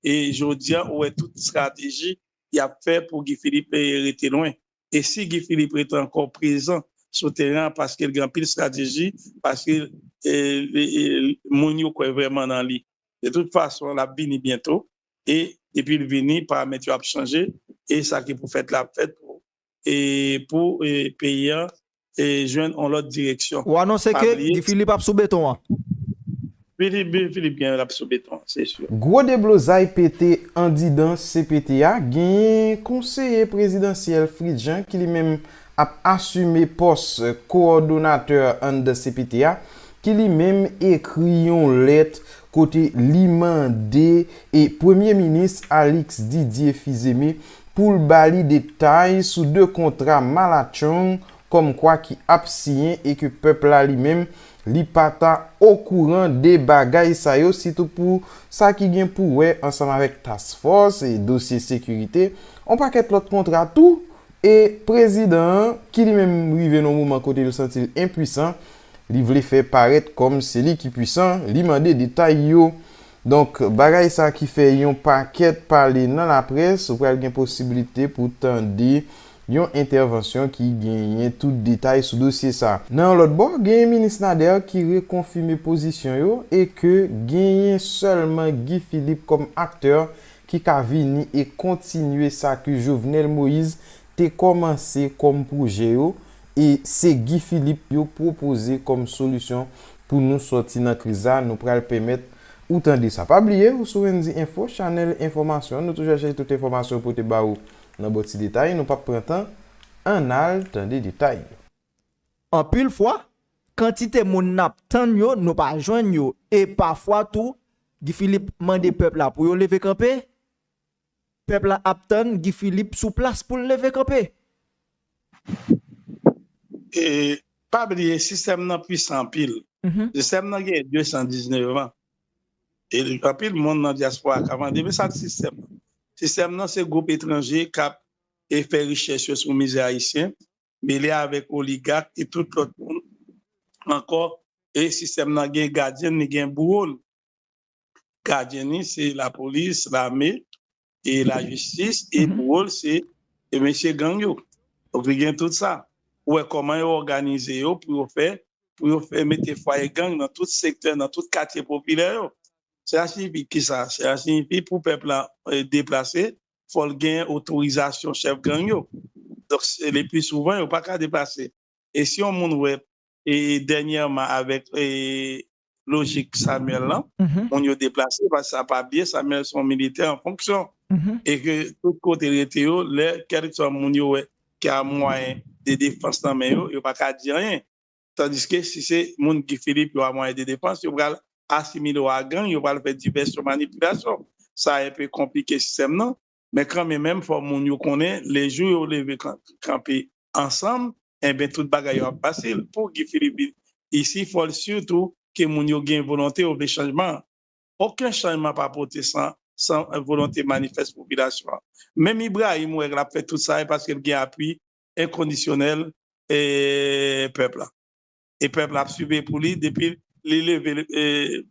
E jodia ou wè tout strateji yap fè pou Guy Philippe rete lwen. E si Guy Philippe rete ankò prezan sou teren an paske l gen anpil strateji, paske moun yo kwè vrèman nan li. De tout fason lap vini byento e depi l vini paramèt yo ap chanje e sa ki pou fèt la ap fèt pou pou peyi an jwenn yon lòt direksyon. Ou anonse ke Guy Philippe ap sou beton an? Guy Philippe gen lap sou beton an se sur. Gwo deblozay pete andidan cpt a, genyen konseye prezidansyèl Fritz Jean ki li menm ap asime pòs kowòdonatè anndan cpt a, ki li menm ekri yon lèt kote li mande premye minis Alix Didier Fils-Aimé pou l ba li detay sou 2 kontra malatchong kòmkwa ki ap siyen e ke pèp la li menm li pa ta okouran de bagay sa yo sitou pou sa ki gen pou wè ansanm avèk task force e dosye sekirite on pakèt lòt kontra tou e prezidan an ki li menm rive nan on moman kote l santi l enpuisan li vle fè parèt kòm se li ki puisan li mande detay yo Donk, bagay sa ki fè yon pakèt pale nan laprès, ou pral gen posiblite pou tande yon entèvansyon ki genyen tout detay sou dosye sa. Nan yon lòt bò, genyen Minis Nader ki rekonfime pozisyon yo e ke genyen sèlman Guy Philippe kòm aktè ki ka vini e kontinye sa ke Jovenel Moïse te kòmanse kòm pwojè yo e se Guy Philippe yo pwopoze kòm solisyon pou nou sòti nan kriz sa nou pral pèmèt ou tande sa pa bliye ou sou Wendyy Enfo chanèl enfòmasyon nou toujou chache tout enfòmasyon pote ba ou nan bo ti detay nou pap pran tan annal tande detay yo. Anpil fwa, kantite moun n ap tann yo nou pa jwenn yo e pafwa tou Guy Philippe mande pèp la pou yo leve kanpe Pèp la ap tann Guy Philippe sou plas poul leve kanpe. E pa bliye sistèm nan pwisan anpil. Sistèm nan genyen 219 an. E anpil moun nan dyaspora ka mande men sak sistèm nan. Sistèm nan se gwoup etranje kap e fè richès yo sou mizè ayisyen mele avèk oligak e tout lòt moun ankò e sistèm nan gen gadyen l li gen bouwo l. gadyen li se lapolis, lame, e lajistis, e pou wou l se mesye gang yo. Donk li gen tout sa. Ou wè kòman yo òganize yo pou yo fè, pou yo fè mete fwaye gang nan tout sektè, nan tout katye popilè yo. Sela siyifi ki sa? Sela siyifi pou pèp la deplase, fò l gen otorizasyon chèf gang yo. Donk, lepli souvan yo pa ka deplase. E si yon moun wè e dènyèman avèk lojik Samuel lan, moun yo deplase paske sa pa byen, Samuel se yon militè an fonksyon e ke tout kote rete yo lè kèlkeswa moun yo wè ki a mwayen de defans nan men yo, yo pa ka di anyen. Tandiske si se moun Guy Philippe yo a mwayen de defans, yo pral asimile yo a gang, yo pral fè divèsyon manipilasyon. Sa enpe konplike sistèm nan. Men kanmen menm fò moun yo konnen le jou yo leve kanpe ansanm enben tout bagay yo ap fasil pou Guy Philippe isi fòl sitou ke moun yo gen volonte yo vle chanjman oken chanjman pa pote san san volonte manifès popilasyon an menm Ibrahim wè lap fè tout sa e paske l gen apui enkondisyonèl e pèp la e pèp la ap siveye pou li depi li leve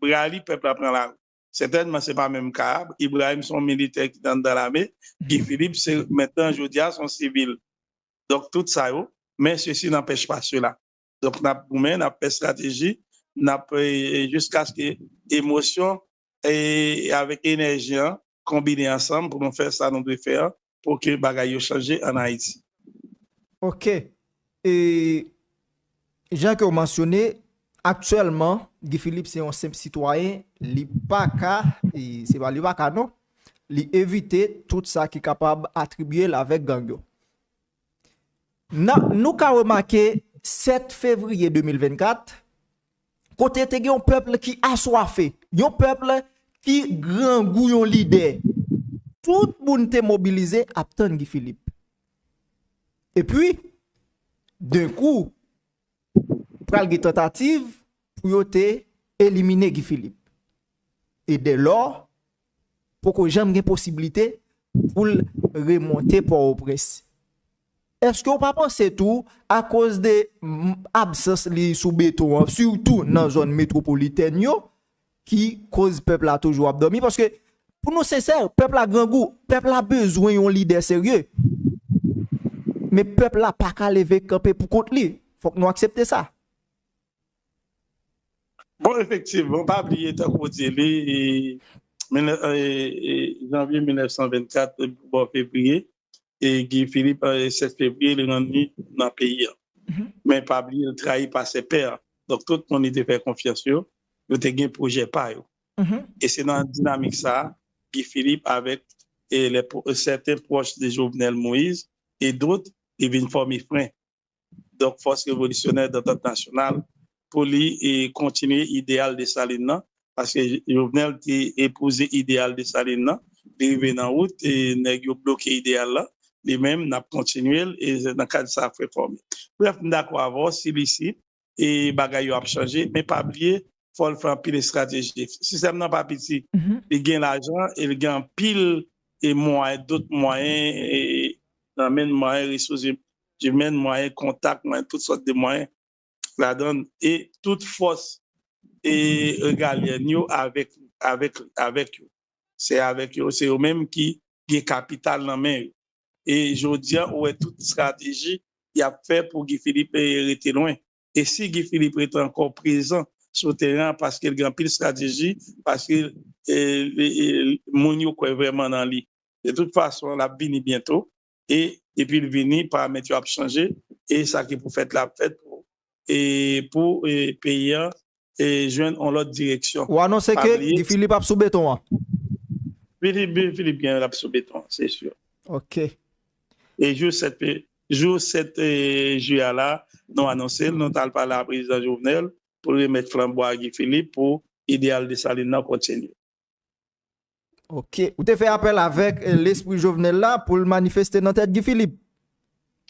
bra li pèp la pran lari. Sètènman se pa menm ka a, Ibrahim se yon militè ki te anndan lame, Guy Philippe se mentnan jodi a se yon sivil. Donk tout sa yo, men sesi nanpèch pa sela. Donk n ap goumen, n ap fè estrateji, n ap jiskaske emosyon avèk enèji an konbine ansanm pou nou fè sa nou dwe fè an Ok bagay yo chanje an Ayiti. Ok e Jan ke ou mansyone aktyèlman Guy Philippe se yon senp sitwayen li pa ka e se pa li pa ka non li evite tout sa ki kapab atribye l avèk gang yo nan nou ka remake 7 fevriye 2024 kote te gen yon pèple ki aswafe, yon pèple ki grangou yon lidè, tout moun te mobilize ap tann Guy Philippe. E pwi, den kou, pral gen tantativ pou yo te elimine Guy Philippe. E dè lò, poko janm gen posiblite pou l remonte Pòtoprens. Eske ou pa panse tou akoz de absans li sou beton an, sitou nan zòn metwopolitèn yo, ki koz pèp la toujou ap dòmi? Paske pou nou sensè, pèp la grangou, pèp la bezwen yon lidè serye. Men pèp la pa ka leve kanpe pou kont li. Fòk nou aksepte sa. Bon efektivman pa bliye tankou ou di li janvye 1924 bò fevriye e Guy Philippe 7 fevriye li rann li nan peyi an men pa bliye li trayi pa se pè donk tout moun li te fè konfyans yo yo te gen pwojè pa yo e se nan dinamik sa Guy Philippe avèk sèten pwòch de Jovenel Moïse e dot li vin fòme fren donk Fòs Revolisyonè Dantant Nasyonal, pou li kontinye ideyal Desalin nan, paske Jovenel te epouze ideyal Desalin nan, li rive nan wout, nèg yo bloke ideyal la, li menm, n ap kontinye l, e se nan kad sa Frè fòme. Brèf, m dakò avè w, si licite, e bagay yo ap chanje men pa bliye fòl fè anpil estrateji sistèm nan pa piti li gen lajan e li gen anpil e mwayen dot mwayen e nan men mwayen resous imèn mwayen kontak mwen tout sòt de mwayen ladan e tout fòs e regalye nyo avèk avèk avèk yo se avèk yo se yo menm ki gen kapital nan men yo e jodi a ou wè tout estrateji y ap fè pou Guy Philippe rete lwen e si Guy Philippe rete ankò prezan sou teren an paske l gen anpil estrateji paske moun yo kwè vrèman nan li de tout fason l ap vini byento e depi l vini paramèt yo ap chanje e sa ki pou fèt la ap fèt pou pou peyi an jwenn yon lòt direksyon. Ou anonse ke Guy Philippe ap sou beton an? Guy Philippe gen lap sou beton an, se sur. Ok. E jou 7 juillet la, nou anonse l, nou tal pale a Prezidan Jovenel pou remèt flanbo a Guy Philippe pou ideyal Dessalines nan kontinye. Ok, ou te fè apèl avèk lespri Jovenel la pou l manifeste nan tèt Guy Philippe?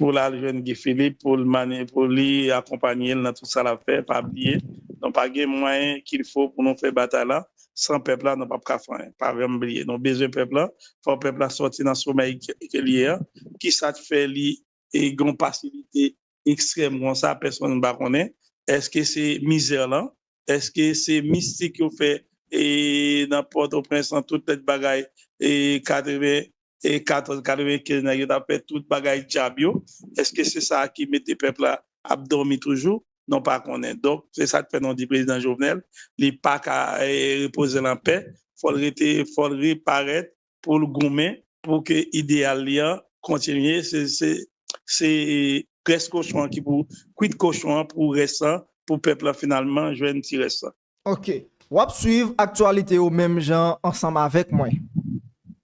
Pou l al jwenn Guy Philippe pou li akonpanye l nan tout sa l ap fè. Pa bliye, nou pa gen mwayen kilfo pou nou fè batay la. San pèp la, nou p ap ka fè anyen. Pa janm bliye, nou bezwen pèp la. Fò pèp la sòti nan somèy ke l ye a. Kisa k fè li e gen yon pasivite ekstrèm konsa pèsonn pa konnen èske se mizè lan èske se mistik yo fè e nan pòtoprens lan tout lèt bagay e 80 e 14 95 nèg yo tap fè tout bagay djab yo èske se sa ki mete pèp la ap dòmi toujou nou pa konnen donk se sak fè nou di prezidan jovenel li paka repozel anpè fòl rete fòl reparèt pou l goumen pou ke ideyal li an kontinye se grès kochon an ki pou kwit kochon an pou rès lan pou pèp lan finalman jwenn ti rès lan. Ok. W ap swiv aktyalite yo menm jan ansanm avèk mwen.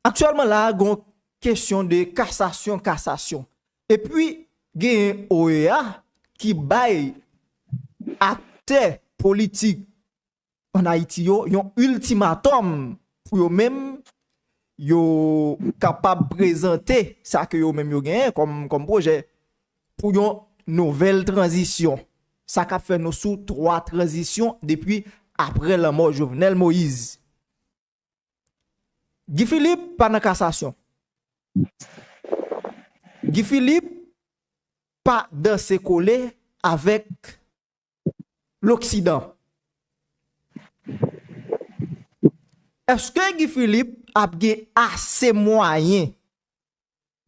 Aktyèlman la a gen yon kesyon de kasasyon kasasyon. Epi genyen OEA ki bay aktè politik an Ayiti yo yon iltimatòm pou yo menm yo kapab prezante sa ke yo menm yo genyen kòm pwojè pou yon nouvèl tranzisyon. Sa k ap fè nou sou twa tranzisyon depi apre lanmò Jovenel Moïse. Guy Philippe pa nan kasasyon. Guy Philippe pa danse kole avèk loksidan. Eske Guy Philippe ap gen ase mwayen,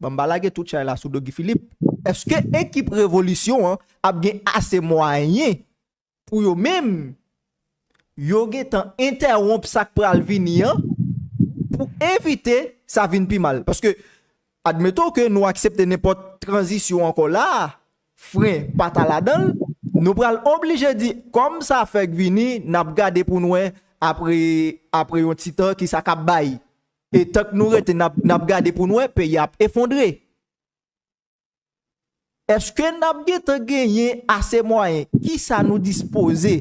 bon m pa lage tout chay la sou do Guy Philippe, eske ekip revolisyon an ap gen ase mwayen pou yo menm, yo gen tan entèwonp sa k pral vini an pou evite sa vin pi mal. Paske, admeton ke nou aksepte nenpòt tranzisyon ankò la a, fren pa ta ladan l, nou pral oblije di, kòm sa fèk vini, n ap gade pou n wè apre, apre yon ti tan ki sa k ap bay. E tank nou rete n ap, n ap gade pou n wè, peyi a ap efondre. Eske n ap gentan genyen ase mwayen? Kisa nou dispoze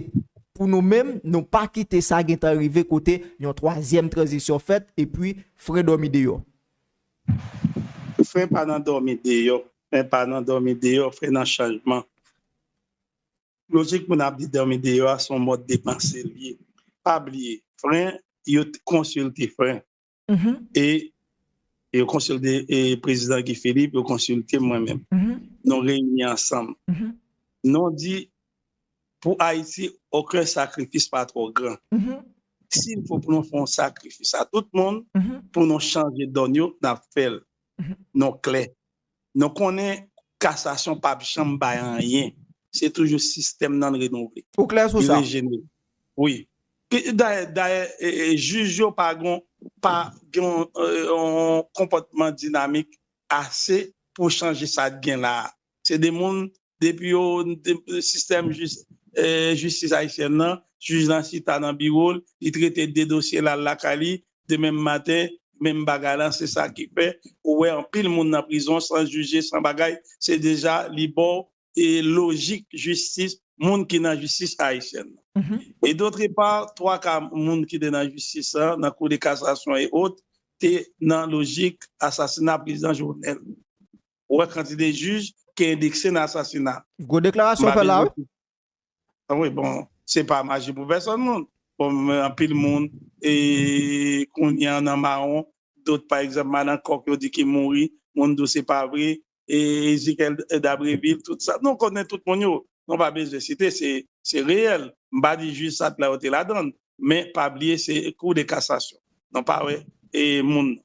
pou nou menm nou pa kite sa gentan rive kote yon twazyèm tranzisyon fèt epi fen dòmi deyò? Fen pa nan dòmi deyò, fen pa nan dòmi deyò, fen nan chanjman. Lojik moun ap di dòmi deyò a se yon mòd de panse l ye. Pa bliye, fen yo konsilte fen. e yo konsilte prezidan Guy Philippe, yo konsilte mwen menm. Nou reyini ansanm. Nou di pou Ayiti, oken sakrifis pa twò gran. Si l fò pou nou fè yon sakrifis a tout moun pou nou chanje donn yo, n ap fè l. Nou klè. Nou konnen kasasyon pap janm bay anyen se toujou sistèm nan renouvle. Ou klè sou sa? Wi. Dayè jij yo pa gen yon konpòtman dinamik ase pou chanje sa gen la a. Se de moun Depi yo sistèm jistis ayisyèn nan, jij la chita nan biwo l, li trete 2 dosye l al lakay li demenm maten, menm bagay lan se sa ki fè ou wè anpil moun nan prizon san jije san bagay se deja li ba w lojik jistis moun ki nan jistis ayisyèn nan. E dotre pa, 3 ka moun ki te nan jistis lan nan kou de kasasyon e ot te nan lojik asasina prezidan Jovenel. Ou wè kantite jij ki endekse nan asasina. Gwo deklarasyon ou fè la wi. Wi bon, se pa maji pou pèsòn moun. Anpil moun kounye an nan mawon. Dot pa egzanp madan kòk yo di ki mouri, moun di w se pa vre. Ezikyèl Dabrevil, tout sa. Nou konnen tout moun yo. Nou pa bezwen site, se reyèl. M pa di jij sa t la yo te ladan l. Men pa bliye se kou de kasasyon. Nou pa wè moun.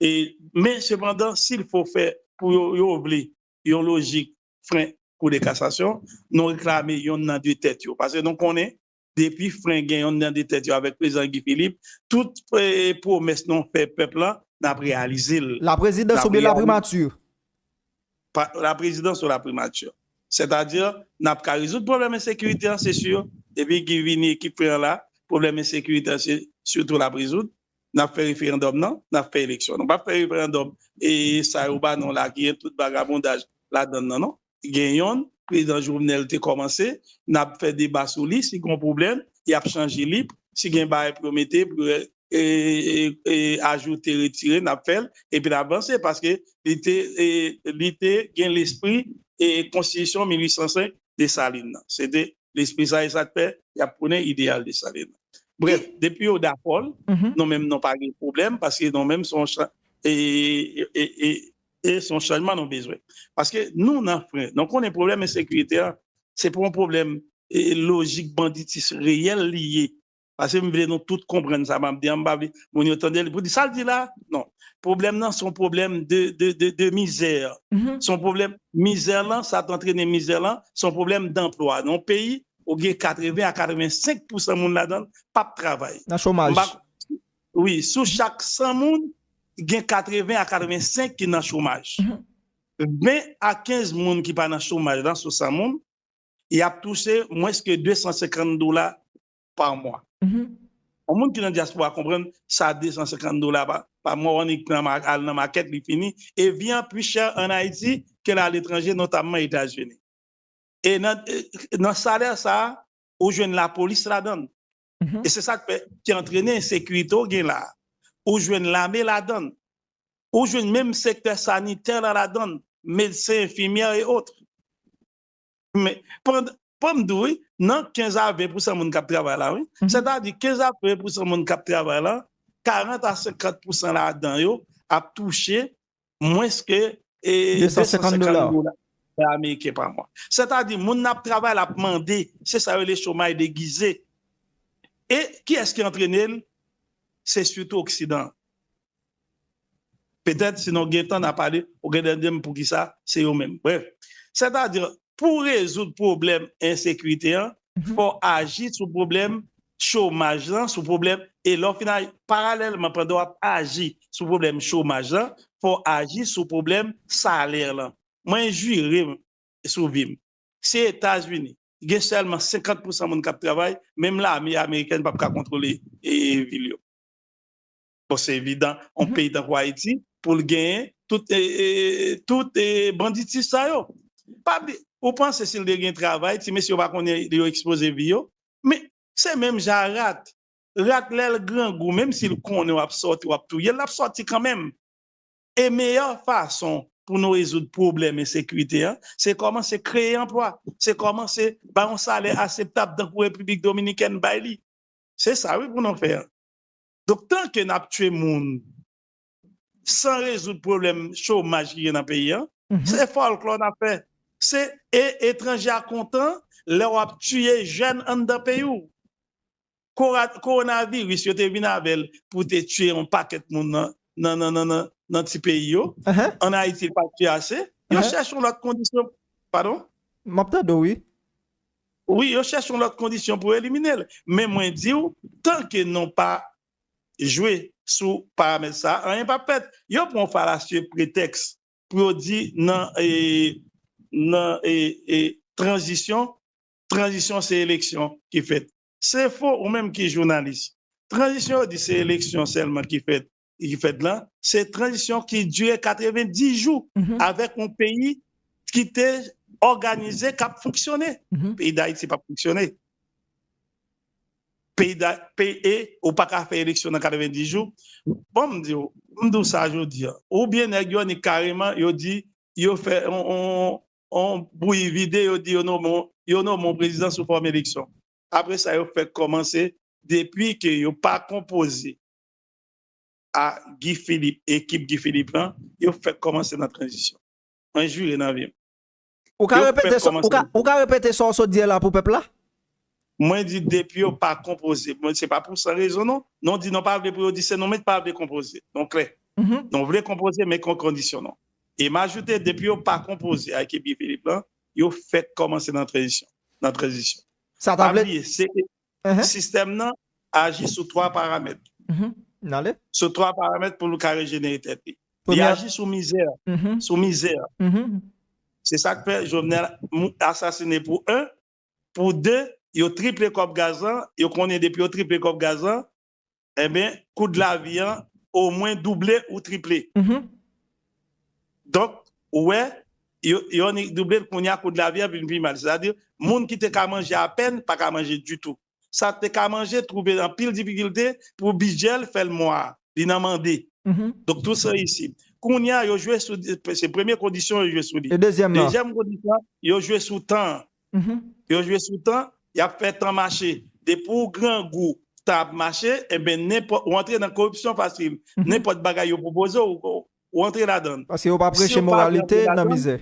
E men sepandan sil fo fè pou yo yo vle yon lojik fren kou de kasasyon nou reklame yon nan de tèt yo pase nou konnen depi fren gen yon nan de tèt yo avèk prezidan Guy Philippe tout pwomès nou fè pèp la nap reyalize l. La prezidans oubyen la primati? La prezidans ou la primati. Sètadi nap ka rezoud pwoblèm ensekirite an se si depi Guy vini ekip fren an la pwoblèm ensekirite an se sitou lap rezoud Nap fè referandòm nan, nap fè eleksyon. Nou pap fè referandòm e sa yo ba nou la ki gen tout vagabondaj ladann nan non. Gen yonn prezidan Jovenel te kòmanse, nap fè deba sou li, si gon pwoblèm yap chanje li, si gen bagay pou yo mete pou yo ajoute, retire nap fèl epi nap vanse paske li te gen lespri konstitisyon 1805 Dessalines nan. Se te lespri sa e sa k fè y ap prone ideyal Desalin. Brèf, depi yo dakò l, nou menm nou pa gen pwoblèm paske nou menm se yon chan e e se yon chanjman nou bezwen. Paske nou nan fren, nou konnen pwoblèm ensekirite a se pa yon pwoblèm lojik banditis reyèl li ye Pase m vle nou tout konprann sa map di an, m pa vle moun yo tande l pou di sa l di la, non. Pwoblèm nan se yon pwoblèm de mizè, se yon pwoblèm mizè lan, sa t antrene mizè lan, se yon pwoblèm danplwa. Nan yon peyi ou gen 80 a 85 pousan moun ladan l pap travay. Nan chomaj. Wi, sou chak 100 moun, gen 80 a 85 ki nan chomaj. 20 a 15 moun ki pa nan chomaj lan sou 100 moun, y ap touche mwens ke 250 dola par mois. Yon moun ki nan diaspora konprann sa 250 dola pa mwa wan nik pran al nan market li fini e vi an pi chè an Haïti ke a l'étranger notamment Etats Unis. E nan salè sa ou jwenn la police ladann e se sak fè ki antrene ensekirite ou gen la ou jwenn lame ladann ou jwenn menm sektè sanitè la ladann medsen enfimyè e autres. Men, pandan, fò m di w wi, nan 15 a 20 pousan moun k ap travay la wi, sètadi 15 a 20 pousan moun k ap travay la, 40 a 50 pousan ladan yo ap touche mwens ke 250 dola ameriken pa mwa. Sètadi moun nan ap travay la ap mande, se sa yo rele chomay degize. E kiyès ki antrene l? Se sitou oksidan an. Petèt si nou gen tan na pale, ou gen de dim poukisa se yo menm. Brèf, sètadi pou w rezoud pwoblèm ensekirite an, fò w aji sou pwoblèm chomaj lan, sou pwoblèm, e lè w fin aji, paralèlman pandan w ap aji sou pwoblèm chomaj lan, fò w aji sou pwoblèm salè lan. Mwen jire m sou vi m, si Etazini gen sèlman 50 pousan moun k ap travay, menm lame amerikèn p ap ka kontwole vil yo. Bon se evidan yon peyi tankou Ayiti poul genyen tout banditis sa yo. Ou panse sil te gen travay ti mesye yo pa konnen yo ekspoze vi yo? Men se menm jan a rat. Rat lèl grangou menm sil konnen wap sòti wap touyel lap sòti kanmenm. E meyè fason pou nou rezoud pwoblèm ensekirite an se kòmanse kreye anplwa, se kòmanse bay yon salè aseptab tankou Repiblik Dominikèn bay li. Se sa wi pou nou fè. Donk tanke nap tye moun san rezoud pwoblèm chomaj ki gen nan peyi an, se fòlklò nap fè. Se e etranje a kontan lè wap tiye jèn anndan peyi w. Kowonaviris yo te vin avè l pou te tiye yon pakèt moun nan ti peyi yo, an Ayiti l pat tiye ase, yo chèche yon lòt kondisyon. Padon? Map tande w wi. Wi yo chèche yon lòt kondisyon pou elimine l men mwen di w tanke nou pa jwe sou paramèt sa a anyen pap fèt. Yo pran yon falasye pretèks pou yo di nan nan tranzisyon, tranzisyon se eleksyon ki fèt. Se fo ou menm ki jounalis. Tranzisyon yo di se eleksyon sèlman ki fèt. ki fèt lan, se tranzisyon ki dire 90 jou avèk yon peyi ki te òganize, k ap fonksyone. Peyi Dayiti p ap fonksyone. E ou pa ka fè eleksyon nan 90 jou. Bon m di w, m di w sa jodi an, oubyen nèg yo annik kareman yo di yo fè yon bouyi vide, yo di yo nome yon prezidan sou fòm eleksyon. Apre sa yo fèk kòmanse depi ke yo pa konpoze a Guy Philippe e ekip Guy Philippe lan yo fèk kòmanse nan tranzisyon mwen jure nan vim Ou ka repete sa ou ka repete sa ou sot di a la pou pèp la? Mwen di depi yo pa konpoze mwen se pa pou san rezon non non di non pa vle pou yo di se non men ki pa vle konpoze non klè non vle konpoze men kon kondisyon non e m ajoute depi yo pa konpoze a ekip Guy Philippe lan yo fèk kòmanse nan tranzisyon nan tranzisyon sa ta vle Sistèm nan aji sou 3 paramèt. Sou 3 paramèt pou l ka rejenere tèt li. Li aji sou mizè. Sou mizè. Se sa k fè Jovenel asasine pou 1. Pou 2, yo triple kòb gaz lan. Yo konnen depi yo triple kòb gaz lan, enben koud lavi an omwen double ou triple donk ou wè yo ni double kounya koud lavi an vin pi mal sètadi moun ki te ka manje apèn pa ka manje ditou sa te ka manje twouve anpil difikilte pou bidjè l fè l mwa li nan mande donk tout sa isi kounya yo jwe sou se premye kondisyon yo jwe sou li dezyèm kondisyon yo jwe sou tan an Yo jwe sou tan, y ap fè tan mache. Depi w grangou, tan ap mache, enben nenpòt, ou antre nan koripsyon fasil. Nenpòt bagay yo pwopoze w, ou antre ladan l. Paske yo pa preche moralite, nan mizè.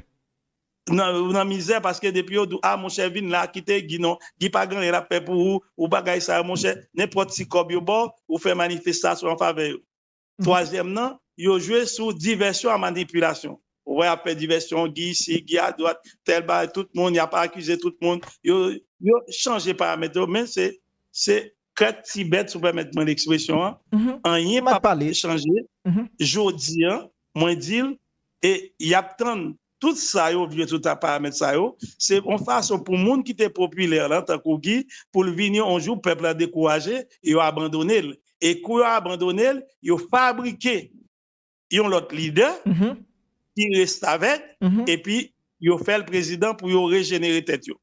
Nan mizè, paske depi yo di w, a monchè vin la, kite Guy non, Guy pa gen anyen l ap fè pou ou, ou bagay sa yo monchè, nenpòt ti kòb yo ba w, ou fè manifestasyon anfavè yo. Twazyèm nan, yo jwe sou divèsyon a manipilasyon. Ou wè y ap fè divèsyon, Gi isi, Gi adwat, tèl bagay, tout moun, y ap akize tout moun. Yo chanje paramèt yo, men se krèk ti bèt, si w pèmèt mwen lekspresyon an, anyen pa p chanje. Jodi an, mwen di l, e y ap tann Tout sa yo vye tout a paramèt sa yo, se yon fason pou moun ki te popilè lan tankou Guy pou l vini yon jou pèp la dekouraje e yo abandone l. E kou yo abandone l, yo fabrike yon lòt lidè ki restavèk epi yo fè l prezidan pou yo rejenere tèt yo.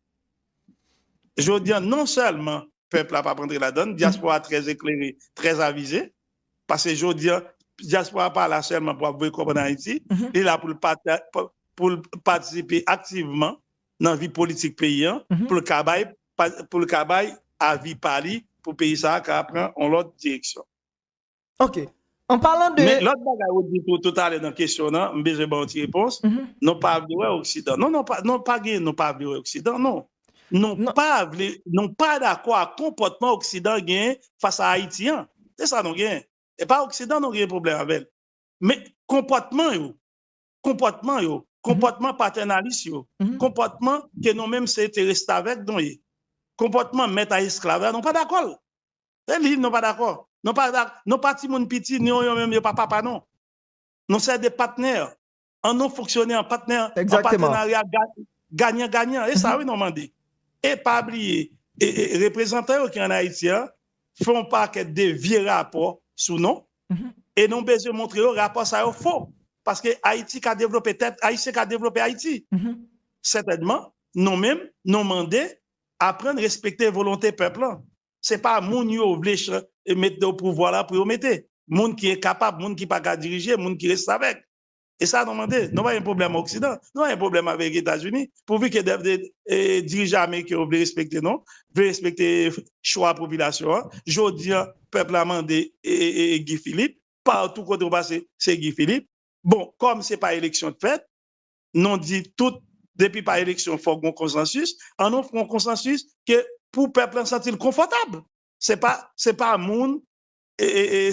Jodi an non sèlman pèp la p ap antre ladann, dyaspora trè eklere, trè avize. Paske jodi an, dyaspora a pa la sèlman pou ap voye kòb ann Ayiti, li la pou l patisipe aktivman nan vi politik peyi an, pou l ka bay, pou l ka bay avi pa li pou peyi sa a ka pran yon lòt direksyon. Ok. An palan de. Men lòt bagay ou di tou toutalè nan kesyon w nan, m bezwen ba w ti repons, nou pa vle wè oksidan. Non, non, pa gen nou pa vle wè oksidan, non. Nou pa vle, nou pa dakò ak konpòtman oksidan genyen fas a Ayiti an. Se sa nou genyen. E pa oksidan nou genyen pwoblèm avè l. Men konpòtman yo, konpòtman yo, konpòtman patènalis yo, konpòtman ke nou menm se te restavèk nou ye, konpòtman mèt a esklav la nou pa dakò l. Se li nou pa dakò. Nou pa timoun piti, nou yo menm yo pa papa nou. Nou se de patnè. an nou fonksyone an patenarya ganyan ganyan e sa wi nou mande e pa bliye reprezantan yo ki an Ayiti an fè yon pakèt de vye rapò sou nou e nou bezwen montre yo rapò sa yo fo paske Ayiti ka devlope tèt Ayisyen ka devlope Ayiti sètènman nou menm nou mande aprann respekte volonte pèp lan se pa moun yo vle mete yo pouvwa la pou yo mete moun ki enkapab moun ki pa ka dirije moun ki restavèk E sa nou mande, nou pa gen pwoblèm oksidan, nou pa gen pwoblèm avèk Etazini, pouvi ke dirijan ameriken yo vle respekte nou, vle respekte chwa popilasyon an, jodi an pèp la mande Guy Philippe, patou kote ou pase se Guy Philippe, bon kòm se pa eleksyon k fèt, nou di tout depi pa eleksyon fòk gon konsansis, an nou fon konsansis ke pou pèp la santi l konfòtab, se pa moun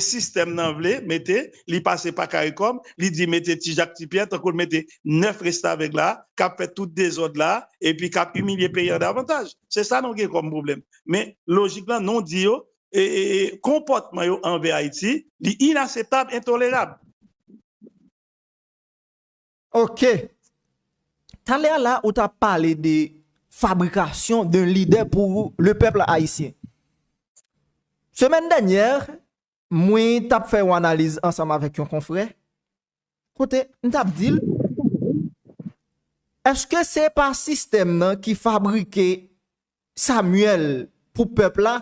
sistèm nan vle mete li pase pa karikom li di mete ti jak ti pyè tankou l mete 9 restavèk la kap fè tout dezòd la epi kap imilye peyi an davantaj se sa nou gen kòm pwoblèm men lojik lan nou di yo konpòtman yo anvè ayiti li inaseptab entolerab. Ok! Talè a la ou ta pale de fabrikasyon d'un lidè pou le pèple ayisyen. Semèn dènyè, mwen t ap fè yon analiz ansanm avèk yon konfrè, kote m t ap di l, èske se pa sistèm nan ki fabrike Samuel pou pèp la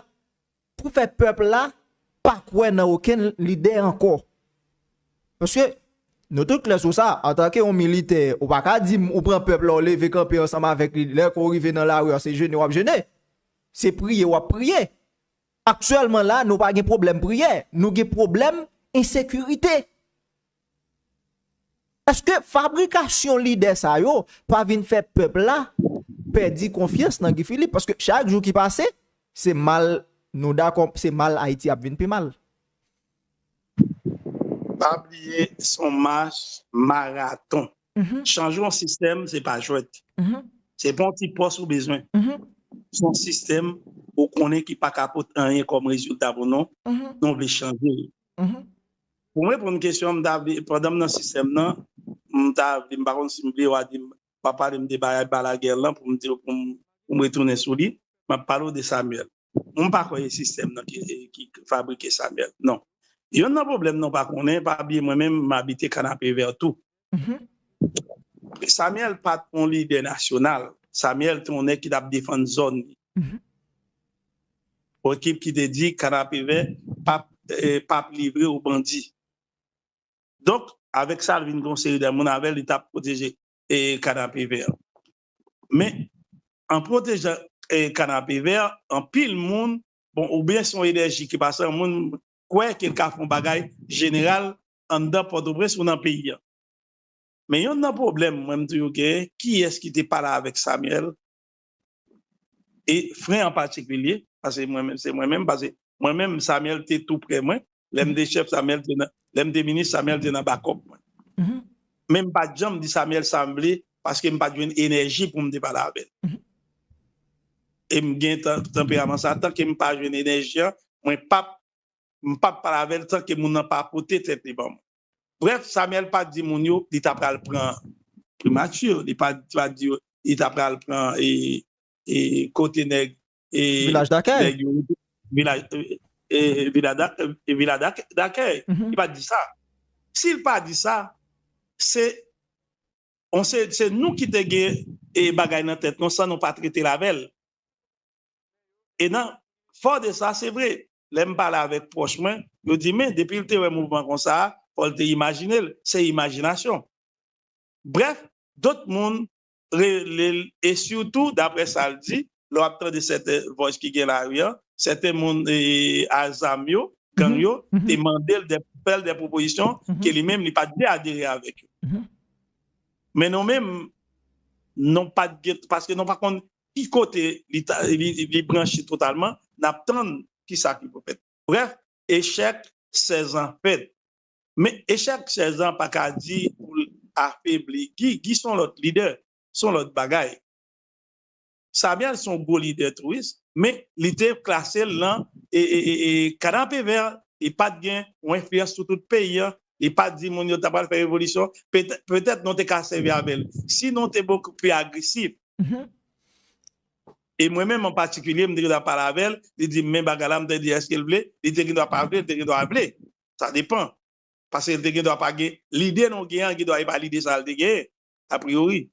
pou fè pèp la pa kwè nan okenn lidè ankò. Paske nou tout klè sou sa, antanke yon militè, ou pa ka di ou pran pèp la ou leve kanpe ansanm avèk li, lè ke ou rive nan lari a se jene w ap jene, se priye w ap priye. Aktyèlman la nou pa gen pwoblèm priyè, nou gen pwoblèm ensekirite. Eske fabrikasyon lide sa yo pa vin fè pèp la pèdi konfyans nan Guy Philippe? Paske chak jou ki pase, se mal, nou dakò, se mal Ayiti ap vin pi mal. Pa bliye se yon mach maraton. Chanje yon sistèm se pa jwèt. Se pa yon ti pòs ou bezwen. Se yon sistèm ou konnen ki pa ka pot anyen kòm rezilta pou nou, nou vle chanje li. Pou mwen reponn kesyon an, m ta vle, pandan m nan sistèm nan, m ta vle, m pa konn si m vle ou a di m, w ap pale m de bagay Balaguer lan pou m di w, pou m pou m retounen sou li, m ap pale w de Samuel. Mwen pa kwè e sistèm nan ki ki fabrike Samuel, non. Yonn nan pwoblèm nan w pa konnen, pa bliye mwen menm m abite Kanapevè tou. Samuel pat yon lidè nasyonal. Samuel te yon nèg ki t ap defann zòn li. Yon ekip ki te di Kanapevè pap livre o bandi. Donk, avèk sa, li vin gen yon seri de moun avè l, li t ap pwoteje Kanapevè. Men, an pwotejan Kanapevè, anpil moun, bon, oubyen se yon enèji ki pase, moun kwè ke l ka fè yon bagay jeneral anndan pòtoprens ou nan peyi an men yonn nan pwoblèm mwen m toujou genyen kiyès ki te pale avèk Samuel e fren an patikilye pase mwen menm se mwen menm pase mwen menm Samuel te tou prè mwen lè m te chèf Samuel te nan lè m te minis Samuel te nan bakòp mwen men m pat janm di Samuel sa m vle paske m pat jwenn enèji pou m te pale avè l e m gen tanperaman sa tanke m pa jwenn enèji an mwen pap m pa p pale avè l san ke moun nan pa pote tèt li ban mwen. Brèf, Samyèl pa t di moun yo li t apral pran primati, li pa t di yo li t apral pran kote nèg yo rete, vila dakèy. Li pa t di sa. Si l pa di sa, se nou ki te gen bagay nan tèt nou san nou pa trete l avè l. E nan fò de sa, se vre, lè m pale avèk pwòch mwen, yo di men depi l te wè mouvman kon sa a, fò l te imajine l, se imajinasyon. Brèf, dot moun rele l e sitou daprè sa l di, lè w ap tande sèten vòys ki gen lari an, sèten moun a zam yo, gang yo, te mande l, fè l dè pwopozisyon ke li menm li pa t vle adere avèk yo. Men nou menm, nou pa t gen, paske nou pa konn ki kote li branche totalman, n ap tann ki sa ki pou fèt. Brèf, echèk 16 an fèt. Men, echèk 16 an pa ka di pou l afebli Gi. Gi s on lòt lidè, s on lòt bagay. Samyèl s on gwo lidè tou wi, men li te klase l lan kanapevè, li pa t gen on enfliyans sou tout peyi an, li pa t di moun yo ta pral fè revolisyon. Petèt nou te ka sèvi avè l si nou te bokou pi agresif. E mwen menm an patikilye, m te gen dwa pale avè l, li di m men bagay la, m te di èske l vle, li te gen dwa pa vle, li te gen dwa vle, sa depan. Paske l te gen dwa pa gen lide non gen an, gen dwa e pa lide sa l te gen, apriori.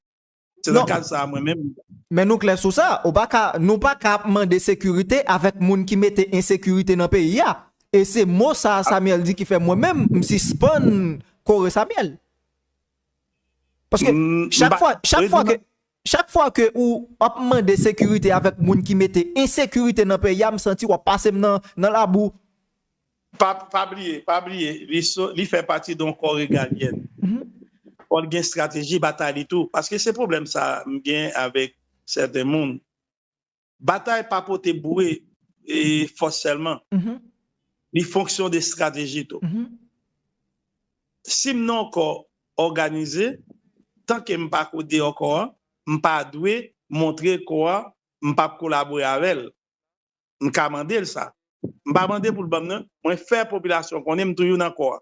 Se nan kad sa a mwen menm. Men nou klè sou sa, ou pa ka, nou pa ka ap mande sekirite avèk moun ki mete ensekirite nan peyi a. E se mo sa a Samuel di ki fè mwen menm m sispann kore Samuel. Paske chak fwa, chak fwa ke, chak fwa ke ou ap mande sekirite avèk moun ki mete ensekirite nan peyi a, m santi w ap pase m nan, nan labou. Pa, pa bliye, pa bliye, li so, li fè pati de yon kò regalyèn. Fò l gen estrateji batay li tou. Paske se pwoblèm sa a m gen avèk sèten moun. Batay pa pote boure e fòs sèlman. Li fonksyon de estrateji tou. Si m nan yon kò òganize, tan ke m pa kou deyò kò an, m pa dwe montre kò an m p ap kolabore avè l. M ka mande l sa. M pa mande pou l ban m nan. Mwen fè popilasyon konnen m toujou nan kò an.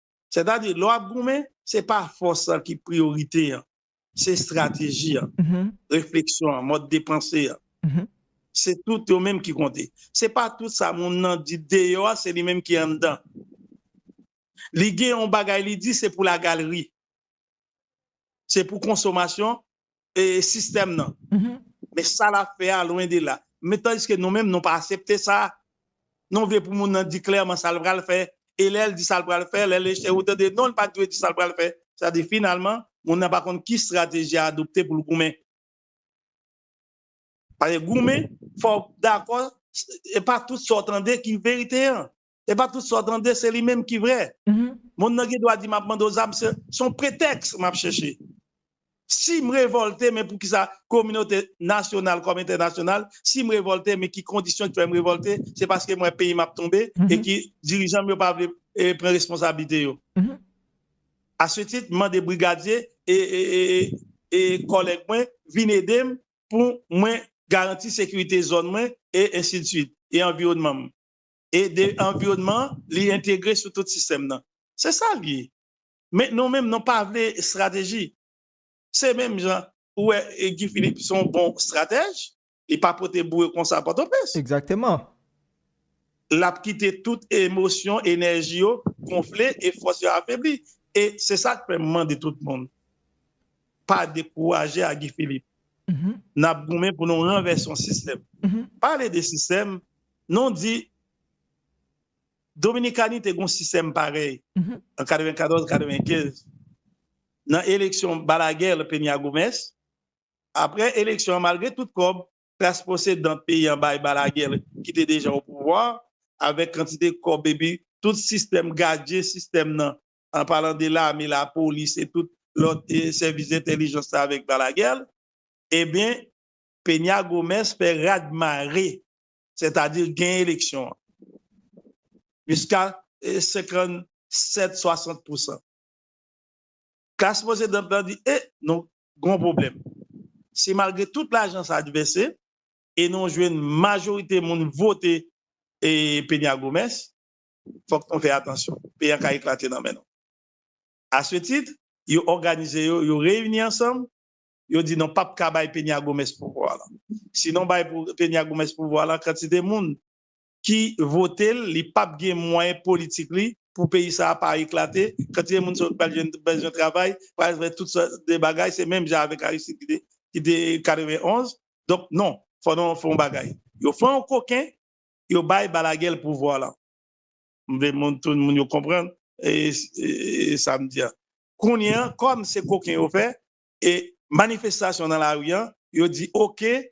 Sètadi, lè w ap goumen, se pa fòs lan ki priyorite an, se estrateji an, refleksyon an, mòd de panse an. Se tout yo menm ki konte. Se pa tout sa moun nan di deyò a, se li menm ki anndan. Li gen yon bagay li di, se pou lagalri. Se pou konsomasyon e sistèm nan. Men sa lap fè a lwen de la. Men tandiske nou menm nou pa asepte sa. Nou vle pou moun nan di klèman sa l pral fè. E lè l di sa l pral fè, lè l echwe ou tande non li pat dwe di sa l pral fè. Sa di finalman moun nan pa konn ki strateji a adopte pou l goumen. Paske goumen fò w dakò e pa tout sa w tande ki verite an. Epa tout sa w tande se li menm ki vrè. Moun nan gen dwa di map mande w zam se yon pretèks map chèche. Si m revòlte men poukisa kominote nasyonal kòm entènasyonal si m revòlte men ki kondisyon ki fè m revòlte se paske m wè peyi m ap tonbe e ki dirijan m yo pa vle pran responsablite yo. A se tit m mande brigadye e kòlèg mwen vin ede m pou mwen garanti sekirite zòn mwen e ensidsuit e anviwònman m. e de anviwònman li entegre sou tout sistèm nan. Se sa li ye. Men nou menm nou pa vle estrateji. Se menm jan ou wè Guy Philippe se yon bon estratèj, li pa pote boure konsa Pòtoprens. Egzakteman. L ap kite tout emosyon, enèji yo gonfle e fòs yo afebli. E se sa k fè m mande tout moun, pa dekouraje a Guy Philippe. N ap goumen pou nou ranvèse yon sistèm. Pale de sistèm, Non di Dominikani te gen yon sistèm parèy an 94-95 nan eleksyon Balaguer, Peña Gómez. Aprè eleksyon an, malgre tout kòb klas posedan peyi an bay Balaguer ki te deja opouvwa a, avèk kantite kòb epi tout sistèm gadyen sistèm nan, an palan de lame, lapolis e tout lòt sèvis entèlijans la avèk Balaguer, ebyen, Peña Gómez fè rad mare, sètadi gen eleksyon an. Jiska 57, 60 pousan. Klas posedant lan di e, nou gon pwoblèm. Se malgre tout lajan sa dpnse e nou jwenn majorite moun vote Peña Gómez, fòk nou fè atansyon. Peyi an ka eklate nan men nou. A se tit, yo òganize yo, yo reyini ansanm yo di non pap ka bay Peña Gómez pouvwa lan. Si non bay Peña Gómez pouvwa lan kantite moun ki votel li pap gen mwayen politik li pou peyi sa a pa eklate, kantite moun sa yo ki pral jwenn bezwen travay, pral fè tout sòt de bagay, se menm jan avèk Aristide ki te 91, donk non fò nou fè yon bagay. Yo fè yon koken yo bay Balaguer pouvwa lan. M vle moun tout moun yo konprann sa m di an. Kounye an kòm se koken yo fè e manifestasyon nan lari an, yo di ok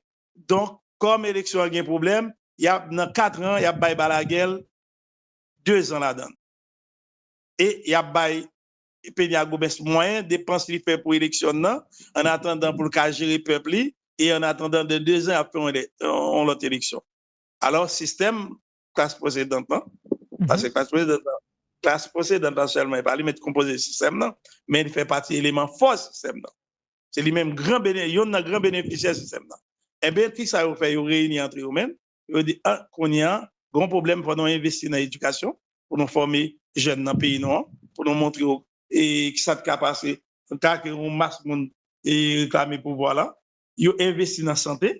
donk kòm eleksyon an gen pwoblèm yap nan 4 ran yap bay Balaguè 2 zan ladann e yap bay Peña Gómez mwayen depans li fè pou eleksyon nan an atandan poul ka jere pèp li e an atandan de 2 zan yap fè yon lòt eleksyon alò sistèm klas posedant lan, pase klas posedant lan, klas posedant lan sèlman, e pa li menm ki konpoze sistèm lan, men li fè pati eleman fò sistèm lan. Se li menm gran bene, youn nan gran benefisyè sistèm lan. Enben, ki sa yo fè? Yo reyini antre yo menm, yo di, an, kounye a, gon pwoblèm, fò nou envesti nan edikasyon, pou nou fòme jèn nan peyi nou an, pou nou montre yo e ki sa ki ka pase an ka ke yon mas moun e reklame pouvwa lan. Yo envesti nan sante.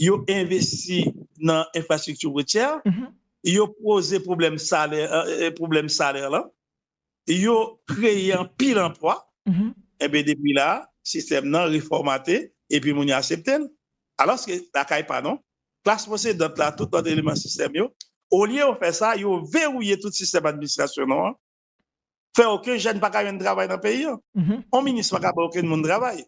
yo envesti nan enfrastrikti woutyè, yo poze pwoblèm salè lan, yo kreye anpil anplwa, enben depi la, sistèm nan refòmate, epi moun yo asepte l. Alòske, lakay pa nou, klas posedant la, tout lòt eleman sistèm yo, olye yo fè sa, yo vewouye tout sistèm administrasyon nou an, fè oken jèn pa ka jwenn travay nan peyi an. On minis pa ka bay oken moun travay.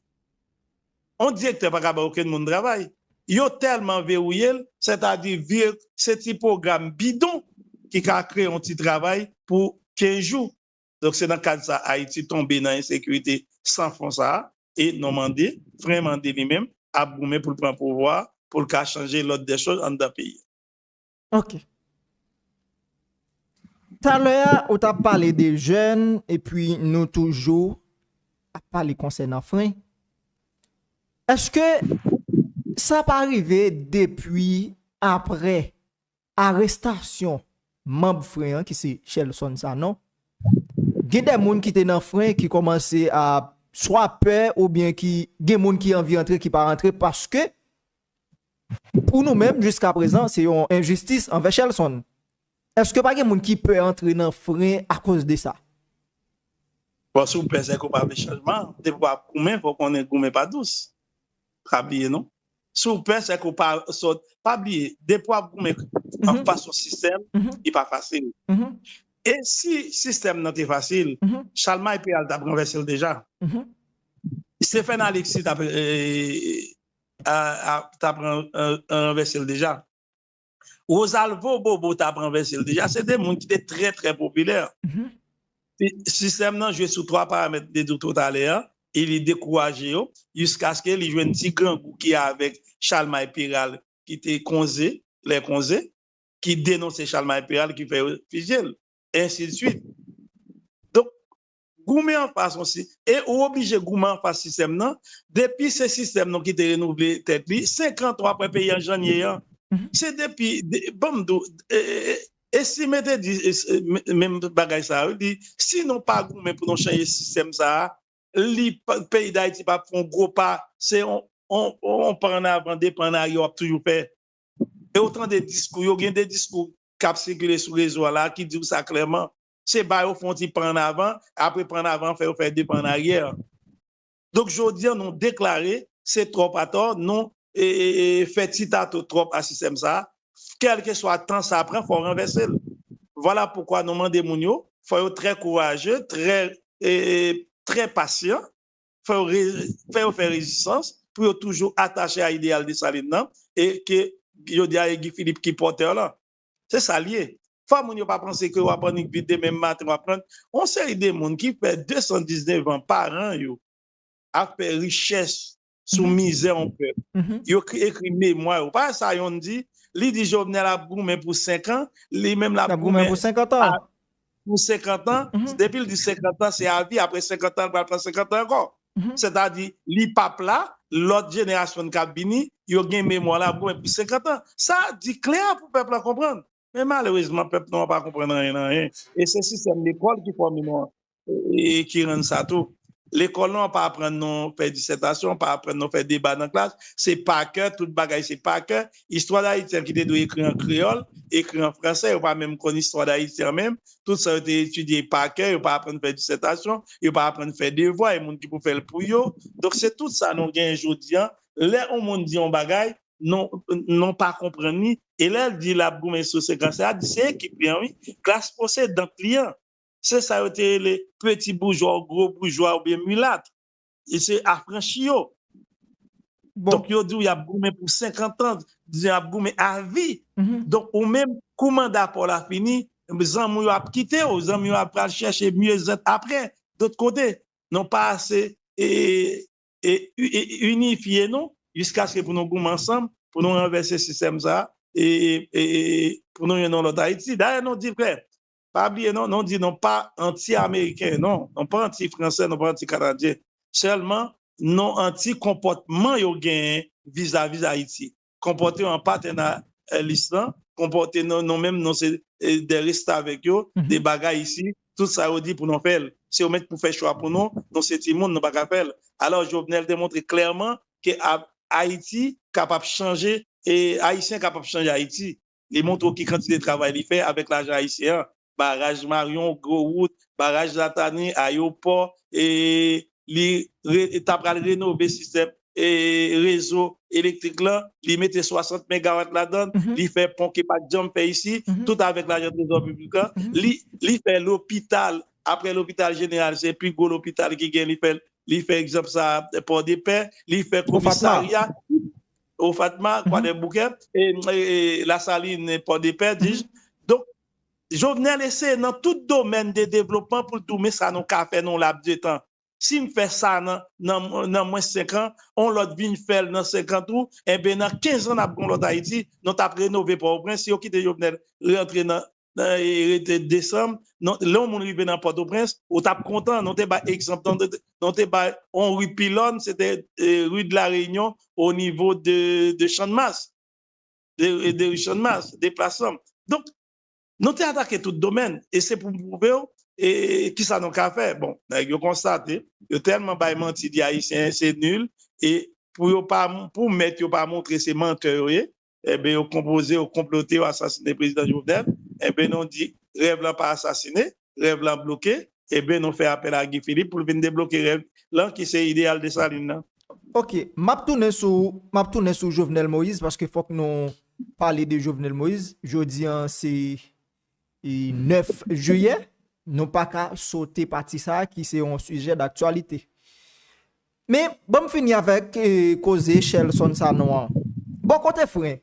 On direktè pa ka bay oken moun travay. Yo tèlman verouye l, sètadi vir se ti pwogram bidon ki ka kreye on ti travay pou 15 jou. Donk se nan kad sa Ayiti tonbe nan ensekirite san fon sa a e non Mande, fren Mande li menm ap goumen pou l pran pouvwa a pou l ka chanje lòd dè choz anndan peyi an. Ok. Talè a ou tap pale de jèn epi nou toujou ap pale konsènan fren. Eske sa pa rive depi apre arestasyon manb fren an ki se Shelson Sanon, gen de moun ki te nan fren ki kòmanse ap swa pè oubyen ki gen moun ki anvi antre ki pa rantre paske Pou nou menm jiska prezan se yon enjistis anvè Shelson. Eske pa gen moun ki pè antre nan fren akoz de sa? Bon si w pè sèke w pa vle chanjman, depi w ap goumen fò w konnen goumen pa dous. Pa bliye non. Si w pè sèke w pa sòt, pa bliye depi w ap goumen anfas yon sistèm li pa fasil. E si sistèm nan te fasil, Chalmay Peyal t ap ranvèse l deja. Stephen Alexis t ap. tap ranvèsel deja Rosalvo bobo tap ranvèsel deja se de moun ki te trè trè popilè sistèm nan jwe sou 3 paramèt de dout totalè an e li dekouraje yo jiskaske li jwenn ti grangou ki avèk chalmay peral ki te konze lè konze ki denonse chalmay peral ki fè yo fizye l ensi de swit donk goumen anfas yon si e ou oblije goumen anfas sistèm nan depi se sistèm nou ki te renouvle tèt li 5 an tou apre peyi an jan n ye an se depi banm di w e si me te di menm bagay sa yo di si nou pa goumen pou nou chanje sistèm sa a li peyi dayiti pa p fon gwo pa se yon yon pa an avan 2 pa an arye w ap toujou fè e ou tande diskou yo gen 2 diskou k ap sikile sou rezo a la ki di w sa klèman. se ba yo fè yon ti pa an avan, apre pa an avan an fè yo fè de pa an aryè. Donk jodi an nou deklare se twòp atò, nou fè ti tato twòp a sistèm sa a, kèlkeswa tan sa pran fò ranvèse l. Vwala poukwa nou mande moun yo, fò yo trè kouraje, trè pasyan, fò yo fè rezistans pou yo toujou atache a ideyal Desalin nan e ke jodi a e Guy Philippe ki pòtè lan. Se sa l ye. Fò moun yo pa panse ke yo ap annik vit demen maten w ap pran. Yon seri de moun ki fè 219 an, paran yo ap fè richès sou mizè yon pèp. Yo ekri memwa yo. Pa sa yonn di, li di Jovenel ap goumen pou 5 an, li menm l ap goumen pou 50 an. pou 50 an, depi l di 50 an se avi, apre 50 an l pral pran 50 an ankò. Sètadi li p ap la, lòt jenerasyon k ap vini yo gen memwa l ap goumen pou 50 an. Sa di klè pou pèp lan konprann. Men malerezman pèp nou an pa konprann anyen nan anyen. E se sistèm lekòl ki fòme nou an ki rann sa tou. Lekòl nou an pa aprann nou fè disètasyon, pa aprann nou fè deba nan klas. Se pakè, tout bagay se pakè. Istwa Dayiti an ki te dwe ekri an kreyòl, ekri an franse, yo pa menm konn istwa Dayiti an menm, tout sa yo te etidye pa kè, yo pa aprann fè disètasyon, yo pa aprann fè devwa, e moun ki pou fè l pou yo. Donk se tout sa nou gen jodi an, lè on moun di on bagay, nou pa konprann li, e lè l di l ap goumen sou se klas la, di se ekip li an wi, klas posedant li an, se sa yo te rele peti boujwa ou gwo boujwa oubyen milat. e se afranchi yo. Donk yo di w yap goumen pou 50 ans, yap goumen a vi. Donk ou menm kou manda pa w la fini, zanmi w yo ap kite w, zanmi w yo ap pral chèche mieux être aprè dot kote. Nou pa ase inifye nou jiskaske pou nou goumen ansanm pou nou ranvèse sistèm sa e pou nou yon lòt Ayiti. Dayè nou di frè, Pa bliye non, nou di nou pa anti ameriken non, nou pa anti fransè, nou pa anti kanadyen. Sèlman nou anti konpòtman yo genyen vizavi Ayiti. Konpòte yo an patènalis lan, konpòte nou nou menm nou se de restavèk yo, de bagay isi, tout sa yo di pou nou fè l. Se yo menm ki pou fè chwa pou nou, nou se timoun nou pa ka fè l. Alò Jovenel te montre klèman ke Ayiti kapab chanje e Ayisyen kapab chanje Ayiti. li montre w ki kantite travay li fè avèk lajan ayisyen an, baraj maryon, gwo wout, baraj latani, ayopò, li ta pral renove sistèm rezo elektrik lan, li mete 60 megawat ladann, li fè pon ki pat janm fè isi, tout avèk lajan trezò piblik lan, li fè lopital, aprè lopital jeneral se pi gwo lopital ki gen li fè, li fè egzanp sa a pòdepè, li fè komisarya. O Fatma, Kwadèboukè, Lasalin, Pòdepè, dij. Donk, Jovenel eseye nan tout domèn de devlopman pou l di w men sa nou ka fè nan yon lap de tan. Si m fè sa nan mwens senkan, yon lòt vin fè l nan senkan tou, enben nan kenzan n ap gen yon lòt Ayiti, nou t ap renove Pòtoprens si yo kite Jovenel rantre nan. rete desanm, lè yon moun rive nan Pòtoprens, ou t ap kontan, nou te bay egzanp, nou te bay yon ri pilòn, se te ri de la Reyinyon onivo de Channmas, de ri Channmas, de plas Sam. Donk, nou te atake tout domèn e se pou m pwouve w ki sa nou ka fè. Bon, nèg yo konstate, yo tèlman bay manti di Ayisyen se nil e pou yo pa, pou mèt yo pa montre se mantè yo ye, enben yo konpoze, yo konplote, yo asasine prezidan Jovenel, enben nou di rèv lan pa asasine, rèv lan bloke, enben nou fè apèl a Guy Philippe pou l vin debloke rèv lan ki se ideyal Dessalines lan. Ok, m ap tounen sou, m ap tounen sou Jovenel Moïse paske fòk nou pale de Jovenel Moïse, jodi an se 9 jiyè, nou pa ka sote pati sa ki se yon sijè daktyalite. Men, ban m fini avèk koze Shelson Sanon an. Bò kote Fren,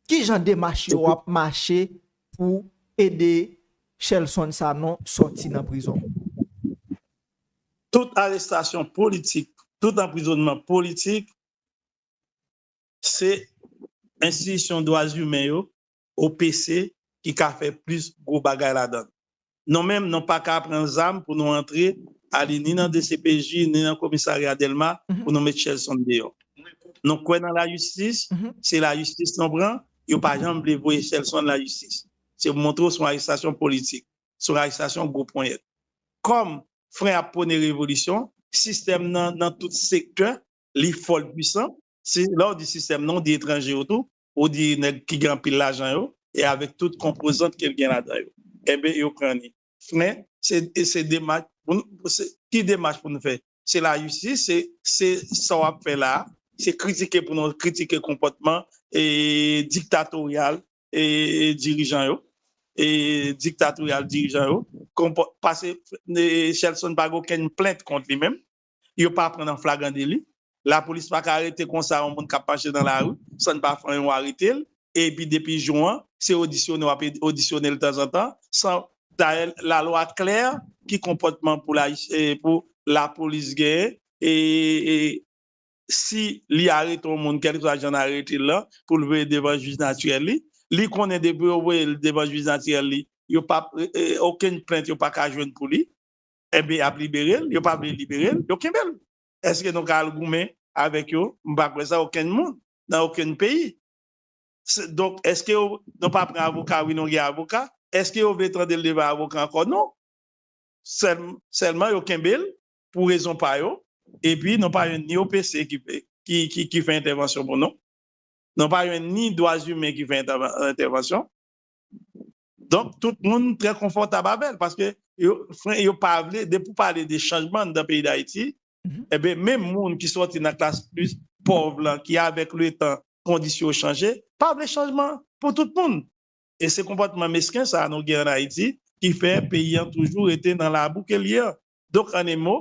ki jan demach yo ap mache pou ede Shelson Sanon sòti nan prizon? Tout arestasyon politik, tout anprizonnman politik, se enstitisyon dwazimen yo OPC ki ka fè plis gwo bagay ladann. Non menm non paka pran zam pou nou antre ale ni nan dcpj ni nan komisarya delma pou nou met Shelson deyò. Nou kwè nan lajistis, se lajistis nou pran, yo pa janm vle voye Shelson lajistis. Se pou montre w son arestasyon politik, son arestasyon gwo ponyèt. Kòm fren ap pwone revolisyon, sistèm nan nan tout sektè li fò l pwisan, lè w di sistèm nan w di etranje yo tou, Ou di nèg ki gen anpil lajan yo e avèk tout konpozant ke l gen ladan yo. Enben yo pran li. Fnen, e se demach pou n, ki demach pou n fè? Se lajistis, se sa w ap fè la a, se kritike pou nou kritike konpòtman diktatoryal dirijan yo, diktatoryal dirijan yo, pase Shelson pa gen okenn plent kont li menm. yo pa pran nan flagran deli, lapolis pa ka arete konsa yon moun k ap mache nan lari san n pa fè yon arete l, epi depi jou an se odisyone w ap odisyone l tanzantan san, dayè lalwa klè ki konpòtman pou lapolis genyen e si li arete yon moun kèlkeswa jan n arete l lan pou l voye devan jij natirèl li, li konnen depi yo voye l devan jij natirèl li yo p ap okenn plent yo pa ka jwenn pou li. Enben y ap libere l, yo pa vle libere l, yo kenbe l. Èske nou ka al goumen avèk yo? M pa kwè sa okenn moun nan okenn peyi. Donk, èske yo, nou pa pran avoka? Wi, nou gen avoka. Èske yo vle tande l devan avoka ankò? Non. Sèl, sèlman yo kenbe l pou rezon pa yo. Epi nou pa jwenn ni OPC ki vle, ki, ki, ki fè entèvansyon pou nou. Nou pa jwenn ni dwazimen ki fè entèvansyon. Donk tout moun trè konfòtab avè l paske yo fren yo pa vle depi w pale de chanjman anndan peyi Dayiti enben menm moun ki sòti nan klas plis pòv lan ki avèk letan kondisyon yo chanje pa vle chanjman pou tout moun e se konpòtman mesken sa a nou gen ann Ayiti ki fè peyi an toujou rete nan labou ke l ye an. Donk an e mo,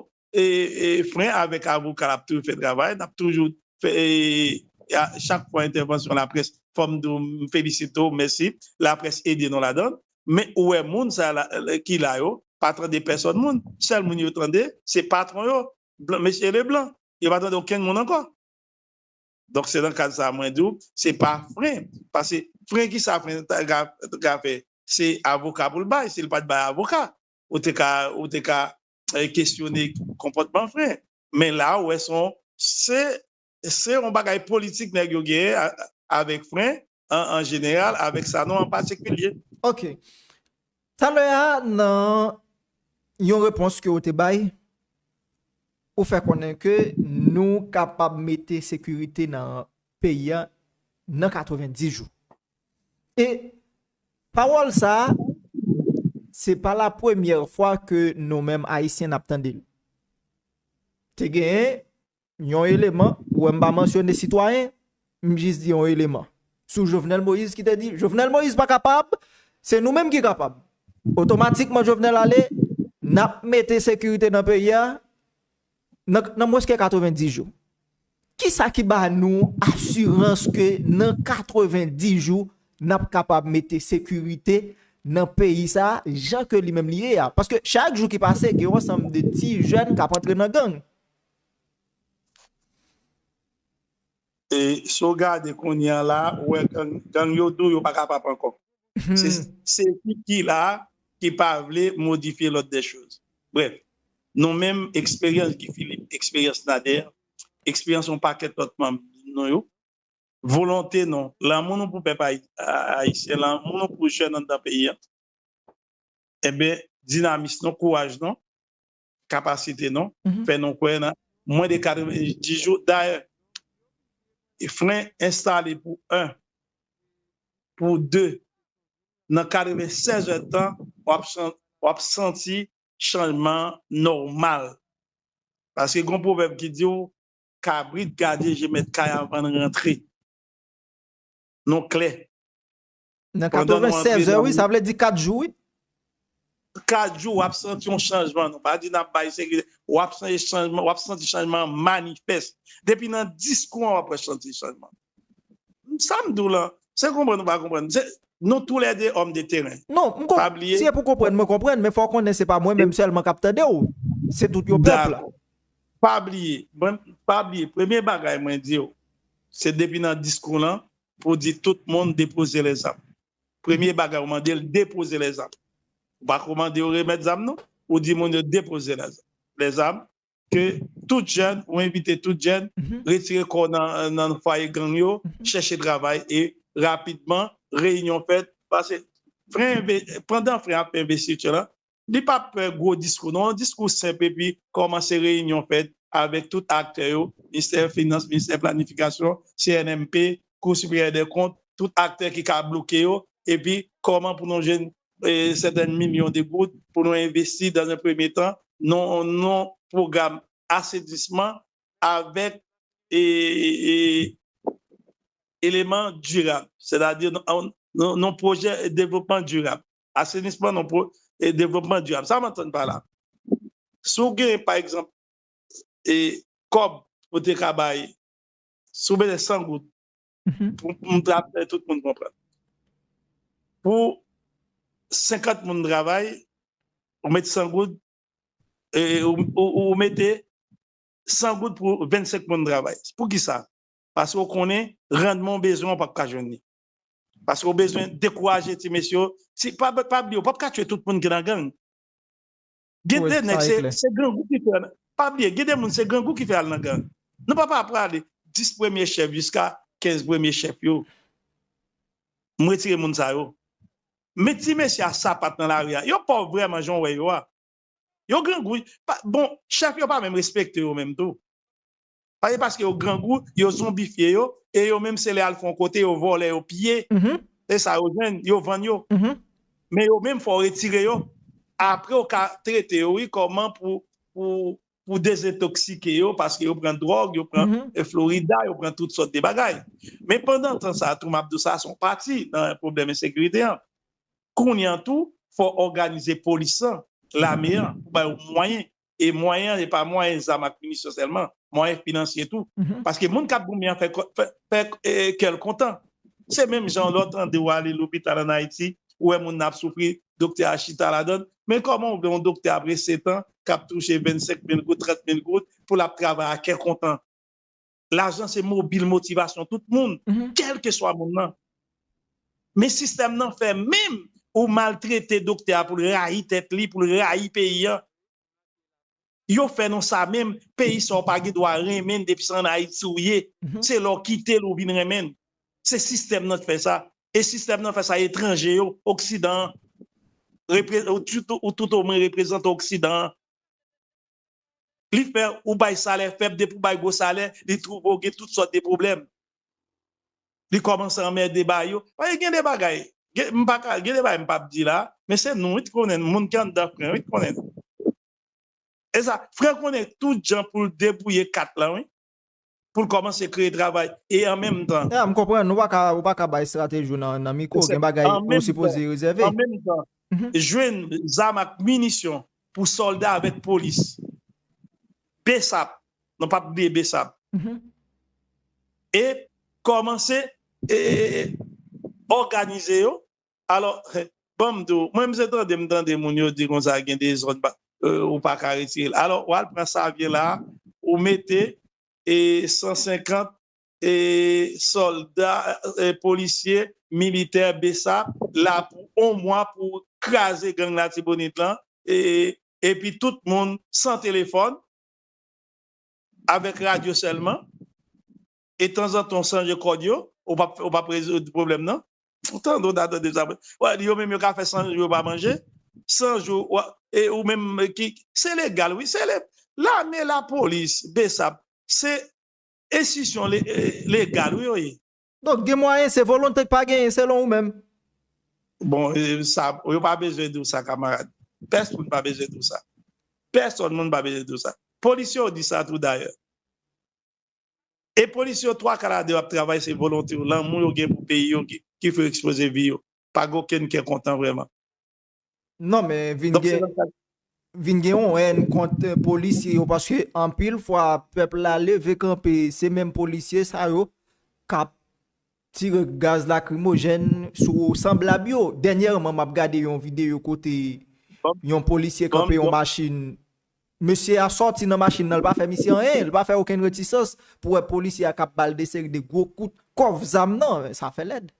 fren avèk avoka ap toujou fè travay, nap toujou fè chak fwa entèvansyon laprès fòm di w m felisite w mèsi laprès ede nou ladan l, men ou wè moun sa ki la yo pa tande pèsòn moun, sèl moun yo tande se patwon yo mesye Leblanc, yo pa tande okenn moun ankò. Donk se nan kad sa mwen di w se pa fren, pase fren kisa fren ka fè se avoka pou l bay si l pat bay avoka. ou te ka ou te ka kesyone konpòtman vre men la ou wè son se se yon bagay politik nèg yo genyen avèk fren an jeneral avèk sanon an patikilye. Ok. Talè a nan yon repons ke ou te bay ou fè konnen ke nou kapab mete sekirite nan peyi a nan 90 jou. E pawòl sa, se pa la premyè fwa ke nou menm Ayisyen nap tande l. Te genyen yon eleman, ou wè m pa mansyone sitwayen, m jis di yon eleman, sou Jovenel Moïse ki te di, Jovenel Moïse pa kapab, se nou menm ki kapab. Otomatikman Jovenel ale, nap mete sekirite nan peyi a, nan mwenske 90 jou. Ki sa ki ba nou asirans ke nan 90 jou n ap kapab mete sekirite nan peyi sa a jan ke li menm li ye a? Paske chak jou ki pase gen yon ansanm de ti jèn k ap antre nan gang. E si w gade kounye an la, ou wè gang yo dou yo pa kapab ankò. Se ekip ki la a ki pa vle modifye lòd dè choz. Brèf, nou menm, eksperyans Guy Philippe, eksperyans Nader, eksperyans yon pakèt lòt manm nou yo, volonte nou, lanmou nou pou pèp ayisyen, lanmou nou pou jèn anndan peyi an, enben dinamis nou, kouraj nou, kapasite non fè nou kwè nan mwen de 90 jou dayè e fren enstale pou 1 pou 2 nan 96 è tan wap santi chanjman nòmal paske gon pwovèb ki diw kabrit gade je mèt kay avann rantre nou klè Nan 96 è wi, sa vle di 4 jou wi. 4 jou wap santi yon chanjman, nou pa di nan bay sekirite, wap santi chanjman manifest. Depi nan diskou an wap wè santi chanjman. Sa m di w lan, se konprann ou pa konprann, nou tou lè 2 òm de teren. Non, m konprann, si e pou konprann mwen konprann, men fò w konnen se pa mwen menm sèlman kap tande w, se tout yon pèp la. Dakò, pa bliye, pa bliye, premye bagay mwen di w, se depi nan diskou lan, pou di tout moun depoze lèzam. Premye bagay ou mande l depoze lèzam. Ou pa ko mande yo remèt zam non. Ou di moun yo depoze lèzam. Ke tout jèn, ou envite tout jèn, retire kò w nan fwaye gang yo, chèche travay e rapidman reyinyon fèt. Pase fren, pandan fren ap fè envestiti la, Li pa pè gwo diskou non, diskou senp epi kòmanse reyinyon fèt avèk tout aktè yo, Ministè Finans, Ministè Planifikasyon, CNMP, Kou Siperyè dè Kont, tout aktè ki ka bloke yo epi kòman pou nou jwenn sèten milyon de goud pou nou envesti dan un premye tan nan yon pwogram asenisman avèk eleman dirab, sètadi nan yon pwojè devlopman dirab. asenisman non pou e devlopman dirab. Sa m antann pa la? Si w gen, pa egzanp, e kòb ou te ka bay, si w bezwen 100 goud, pou m ta fè tout moun konprann, pou 50 moun travay, ou met 100 goud, e ou mete 100 goud pou 25 moun travay. Pou ki sa? Paske ou konnen randman w bezwen an w pap ka jwenn li. Paske ou bezwen dekouraje ti mesye yo. Si, pa pa bliye, ou pap ka tchwe tout moun ki nan gang. Gen Wè, de nèg sa e se, klè. se grangou ki fè, pa bliye, gen de moun se grangou ki fè al nan gang. Nou pa pa prale 10 premye chèf jiska 15 premye chèf yo. M retire moun sa yo. Men ti mesye a sapat nan lari a, yo pòv vrèman jan w wè yo a. Yo grangou, pa, bon, chèf yo pa menm respekte yo menm tou. Pase paske yo grangou, yo zonbifye yo, e yo menm se lè al fè yon kote yo vòlè, yo piye, e sa yo jwenn, yo vann yo. Men yo menm fò w retire yo, apre ou ka trete yo wi kòman pou dezetoksike yo, paske yo pran dwòg, yo pran florida, yo pran tout sòt de bagay. Men pandan tan sa tou, m ap di w sa son pati nan pwoblèm ensekirite an. Kounye an tou, fò òganize polis lan, lame an, pou ba yo mwayen e mwayen an e pa mwayen zam ak minisyon sèlman, mwayen finansye tou. Paske moun k ap goumen an fè kè l kontan. Se menm jan lè w tande ou ale lopital ann Ayiti, ou wè moun nan ap soufri, doktè a chita ladan l. Men kòman ou vle yon doktè apre setan k ap touche 25 mil goud, 30 mil goud pou l ap travay a kè kontan? Lajan se mobil motivasyon tout moun, kèlkeswa moun nan. Men sistèm nan fè menm ou maltrete doktè a pou l rayi tèt li, pou l rayi peyi an. Yo fè nou sa menm, peyi sa w pa gen dwa renmen depi se ann Ayiti ou ye. Se lè w kite l ou vin renmen l. Se sistèm nan k fè sa. E sistèm nan fè sa etranje yo, oksidan an. Ou toutomwen reprezante oksidan an. li fè ou bay salè fèb depi ou bay gwo salè li twouve ou gen tout sòt de pwoblèm li kòmanse anmède ba yo paske gen de bagay m pa ka gen de bagay m pap di la men se nou wi t konnen n moun ki anndan fren wi t konnen n e sa fren konnen tout jan pou l debouye kat lan wi. pou l kòmanse kreye travay e an menm tan. Ya, m konprann. Ou pa ka, ou pa ka bay estrateji w nan mikwo. Gen bagay ou sipoze rezève. An menm tan, jwenn zam ak minisyon pou sòlda avèk polis. Bsap, nou pap bliye bsap. E kòmanse òganize yo Alò, ban m di w, mwen m se tande m tande moun yo di konsa gen de zòn pa, ou pa ka retire l. Alò, w al pran Savyen la a, ou mete 150 sòlda, polisye, militè, bsap, la pou on mwa pou kraze gang Latibonit lan, epi tout moun san telefòn, avèk radyo sèlman. e tanzantan w chanje kòd yo, ou pap rezoud pwoblèm nan. Ou tande, ou ta tande sa. Wè, yo menm yo ka fè 100 jou yo pa manje. 100 jou, e ou menm ki, se legal wi, se le, lame, lapolis, bsap, se enstisyon legal wi yo ye. Donk gen mwayen, se volonte k pa genyen selon ou menm? Bon, sa, yo pa bezwen di w sa kamarad. Pèsonn pa bezwen di w sa. Pèsonn moun pa bezwen di w sa. Polisye w di sa tou dayè. E polis yo twa kal a de ap travay se volonte yo, lanmou yo gen pou peyi yo ki fè yo ekspoze vi yo. Pa gen okenn kè kontan vrèman. Non men vin gen vin gen yon èn kont polisye yo paske anpil fwa pèp la leve kanpe se menm polisye sa yo kap Tire gaz lakrimojèn sou sanblab yo. Dènyèman m ap gade yon videyo kote yon polisye kanpe yon machin. Mesye a sòti nan machin nan, l pa fè misye anyen, l pa fè okenn retisans pou wè polisye a k ap ba l de seri de gwo kout kòf zam nan. Sa fè lèd.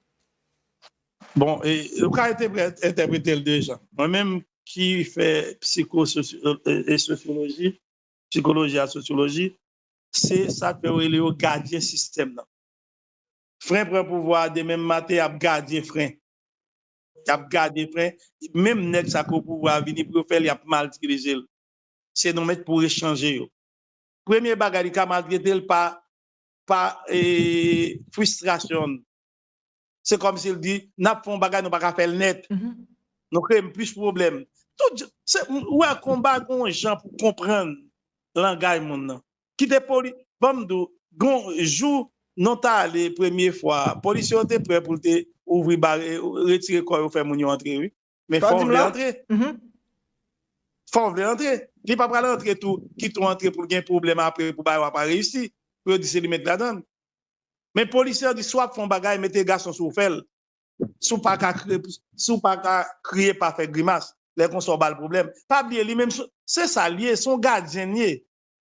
Bon, ou ka entèprete l de jan. Mwen menm ki fè psiko e sosyoloji, psikoloji ak sosyoloji, se sa k fè yo rele yo gadyen sistèm nan. fren pran pouvwa a demen maten yap gadyen fren yap gade fren menm nèg sa ki o pouvwa a vini pou yo fèl yap mal tilizel se nou menm pou echanje yo premye bagay li ka maltretel pa pa fwistrasyonl se kòmsil di nap fon bagay nou paka fèl nèt nou kreyem plis pwoblèm tout jan ou wè konba gon jan pou konprann langay moun nan Kite poli banm di w gon jou non ta ale premye fwa polisye yo te prè pou l te ouvri bare retire kò yo fè moun yo antre wi men fò w vle antre fò w vle antre li pa pral antre tou kite w antre pou l gen pwoblèm apre pou bagay w a pa reyisi pou yo di se li mèt ladan l men polisye yo di si w ap fè yon bagay mete gason sou w fè l si w pa ka kriye si w pa ka kriye pa fè grimas lè konsa w ba l pwoblèm pa bliye li menm se sa l ye se yon gadyen l ye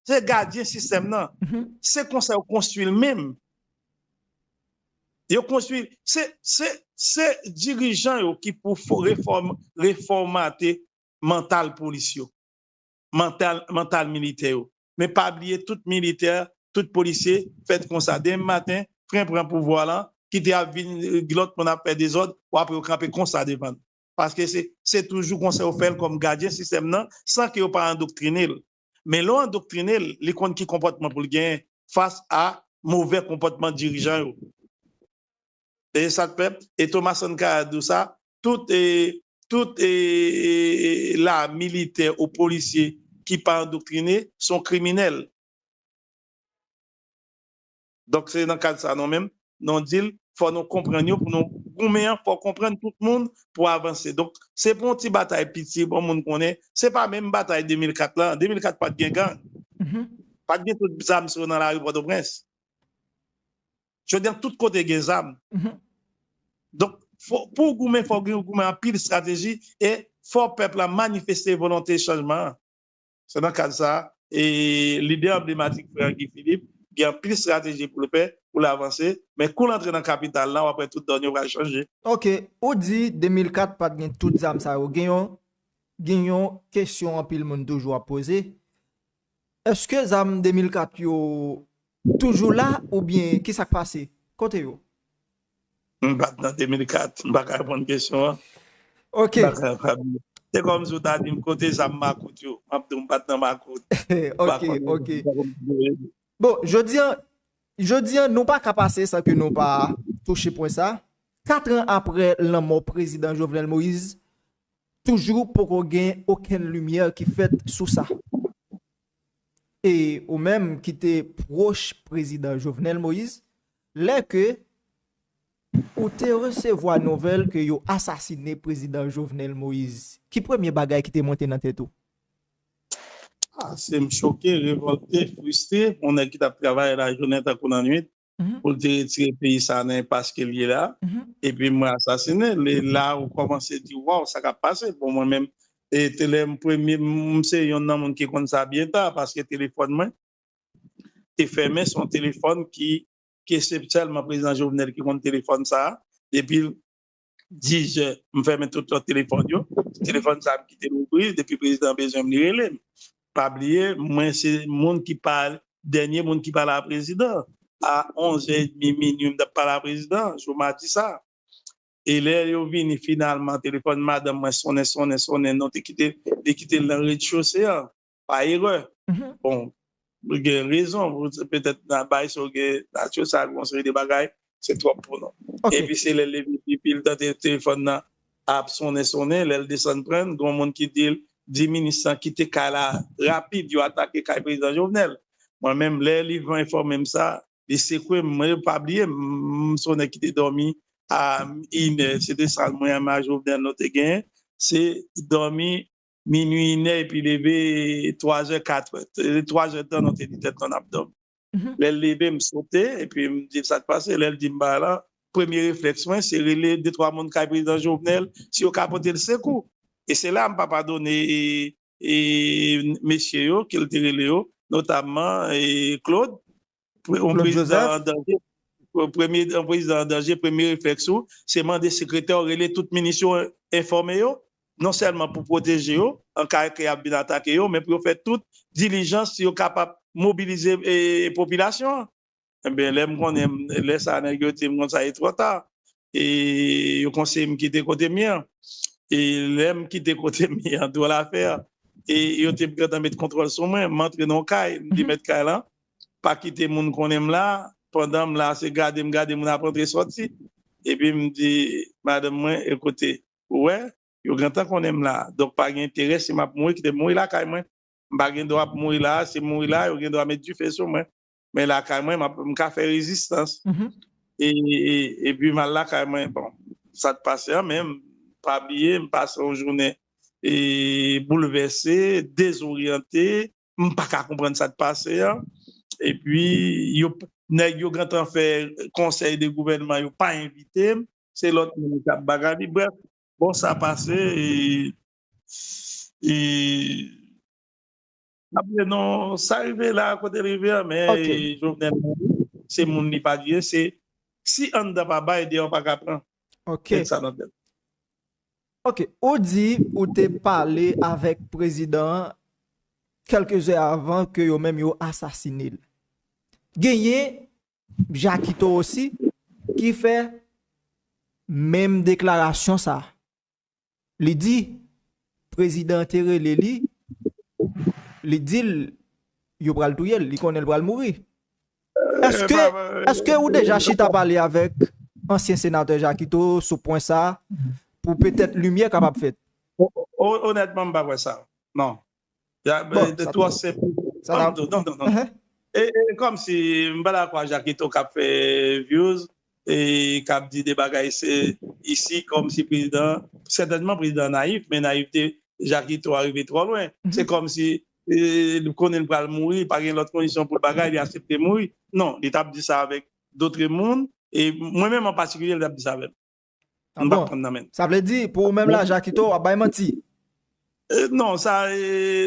Se gadyen sistèm nan. Se konsa yo konstwi l menm. Yo konstwi, se dirijan yo ki pou refòmate mantal polis yo, mantal militè yo. Men pa bliye tout militè, tout polisye fèt konsa. Demen maten, pren pran pouvwa lan, kite ap vin lòt moun ap fè dezòd, w ap wè yo kanpe konsa devan l. Paske se toujou konsa yo fè l kòm gadyen sistèm nan san ke yo pa andoktrine l. Men lè w andoktrine l, li konn ki konpòtman pou l genyen fas a movè konpòtman dirijan yo. E sa k fè, e Thomas Sankara di w sa, tout e, tout e e e la militè ou polisye ki pa andoktrine s on kriminèl. Donk se nan kad sa non menm non dil fò nou konprann yo pou nou goumen an fò konprann tout moun pou avanse donk se pou yon ti batay piti bon moun konnen se pa menm batay 2004 lan 2004 pat gen gang pat gen tout zam sa yo nan lari pòtoprens jodi an tout kote gen zam donk pou goumen fò goumen anpil estrateji e fò pèp la manifeste volonte chanjman an. Se nan kad sa a, lidè anblematik frè an Guy Philippe gen anpil strateji pou l fè pou l avanse, men kou l antre nan kapital la w ap wè tout donn yo pral chanje. Ok, ou di 2004 pat gen tout zam sa yo, gen yon gen yon kesyon anpil moun toujou ap poze, eske zam 2004 yo toujou la oubyen ki sa k pase? Kote yo? M pat nan 2004, m pa ka reponn kesyon an. Ok. M pa ka reponn. Se kòm si w ta di m kote zam makout yo. M ap di w m pat nan makout. Ok, ok. Bon, jodi an, jodi an nou pa ka pase san ke nou pa touche pwen sa. Katran apre lanmò prezidan Jovenel Moïse, toujou poko gen okenn limyè ki fèt sou sa. E ou menm ki te pwoch prezidan Jovenel Moïse, Lè ke ou te resevwa nouvèl ke yo asasine Prezidan Jovenel Moïse, ki premye bagay ki te monte nan tèt ou? Ase m choke, revòlte, fristre pou yon nèg ki tap travay lajounen tankou lannwit pou l te retire peyi sa a nan enpas ke l ye la, epi m wè asasine l. E la ou kòmanse di waw sa kap pase? Bon mwen menm, e te lè m premye, m se yonn nan moun ki konn sa byen ta paske telefòn mwen, te fèmen son telefòn ki ke se sèlman prezidan Jovenel ki konn telefòn sa a depi 10 zè m fèmen tout lòt telefòn yo telefòn sa a m kite l ouvri depi prezidan bezwen m li rele m pa bliye mwen se moun ki pa dènye moun ki pale a prezidan a 11 zè edmi minui m t ap pale a prezidan jou madi sa a e lè yo vini finalman telefòn madanm mwen sonnen sonnen sonnen non te kite li kite l nan rezchose an. pa erè. Bon, ou gen rezon, petèt nan bay sa ou gen nature sa ak yon seri de bagay, se twòp pou nou. Epi se lè l leve pye epi l tande telefòn nan ap sonnen sonnen, lè l desann pran, gen yon moun ki di l, di minis lan kite kay la rapid, yo atake kay Prezidan Jovenel. Mwen menm, lè Livan enfòme m sa, li sekwe m, mwen pa bliye m, m se yon nèg ki te dòmi a inè, se te sa mwen ak Marie Jovenel nou te genyen, se dòmi minwi inè epi leve twazè katrè twazè tan nou te di tèt nou nap dòmi lèl leve m sote epi m dil sak pase lèl dim ba la premye reflèks mwen se rele de twa moun kay prezidan jovenel si yo ka potel sekou e se la m pa padone mesye yo kel te rele yo notamman Claude Yon prezidan an danje, yon prezidan an danje, premye reflèks ou, se mande sekretè w rele tout minis yo, enfòme yo, non sèlman pou pwoteje yo, an ka ke y ap vin atake yo, men pou yo fè tout dilijans si yo kapab mobilize popilasyon an. Enben, lè m konnen, lè sa a nèg yo di m konn sa, e twò ta, e yo konseye m kite kote m ye an. E lè m kite kote m ye an, dwòl afè, e yo te gentan met kontwòl sou mwen, m antre nan yon kay, m di mèt kay lan, pa kite moun konnen m la pandan m la se gade m gade moun ap antre sòti epi m di madanm mwen ekoute ou wè yo gentan konnen m la donk pa gen enterè si m ap mouri kite m mouri lakay mwen m pa gen dwa ap mouri la si m mouri la yo gen dwa met dife sou mwen men lakay mwen m ka fè rezistans epi m al lakay mwen bon sa t pase an men m pa bliye m pase yon jounen e boulvèse dezoryante. m pa ka konprann sa k pase an epi yo nèg yo gentan fè konsèy de gouvènman yo pa envite m se lòt moun k ap bagay li brèf bon sa pase e m ap di non sa rive la kote l rive an men Jovenel se moun li pa di se si anndan pa bay deyò pa ka pran met sa nan tèt nou. Ok, ou di ou te pale avèk prezidan an kèlke zè avan ke yo menm yo asasine l. Genyen Jakito osi ki fè menm deklarasyon sa. Li di prezidan an te rele li, li di l yo pral touye l, li konnen l pral mouri. Eske ou deja chita pale avèk ansyen senatè Jakito sou pwen sa pou petèt limyè kapab fèt? Onètman m pa kwè sa non. E kòmsi m pa dakò ak Jakito k ap fè vyouz e k ap di de bagay se isi kòmsi prezidan sètènman prezidan nayif men nayifte Jakito a rive twò lwen se kòmsi li konnen li pral mouri, li pa gen lòt kondisyon pou l bagay, li asepte mouri. Non, li t ap di sa avèk dotre moun, e mwen menm an patikilye li t ap di sa avè m. M pa konprann nan menm. Sa vle di, pou ou menm la, Jakito ap bay manti? Non, sa,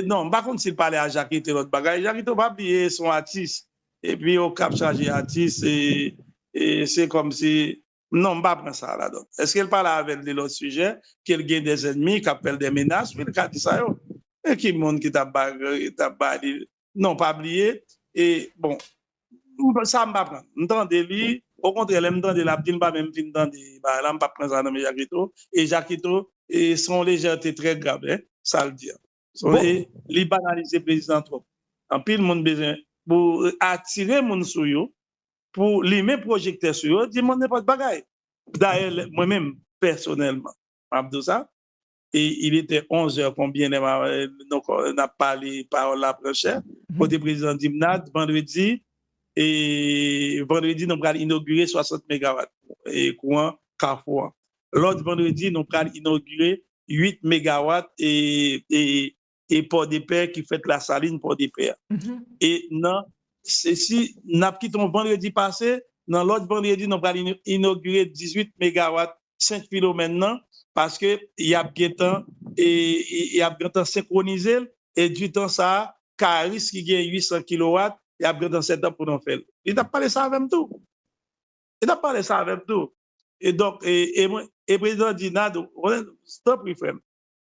non, m pa konn si l pale a Jakito lòt bagay. Jakito pa bliye se yon atis, epi Okap chaje atis, e se kòmsi. Non m pa pran sa a la donn. Eske l pale avè l de lòt sijè, ke l gen dè zènmi k ap fè l dè menas? Wi l ka di sa yo. E ki moun ki t ap ba li l? Non pa bliye e bon sa m pa pran l. M tande li, okontrè lè m tande l ap di l m pa menm fin tande bagay la, m p ap pran sa nan men Jakito. E Jakito se yon lejète trè grav sa l di an. Li banalize prezidan trop. Anpil moun bezwen pou atire moun sou yo, pou limen pwojektè sou yo, di moun nenpòt bagay. Dayè mwen menm pèsonèlman m ap di w sa, e il etè onzè konbyen lè n ap pale pawòl la pran chè, kote prezidan di m Nad, vandredi, e vandredi nou pral inogire 60 megawat kouran kafou an. Lòt vandredi nou pral inogire 8 megawat e Pòdepè ki fèt Lasalin Pòdepè. E nan si nap kite yon vandredi pase, nan lòt vandredi nou pral inogire 18 megawat Sent Filomèn nan paske yap gentan e yap gentan senkwonize l e ditan sa a Karis ki gen 800 kilowat yap gentan setup pou nan fè l. Li tap pale sa avèm tou. e tap pale sa avèm tou e donk e mwen e prezidan an di Nad ou konnen tanpri frèm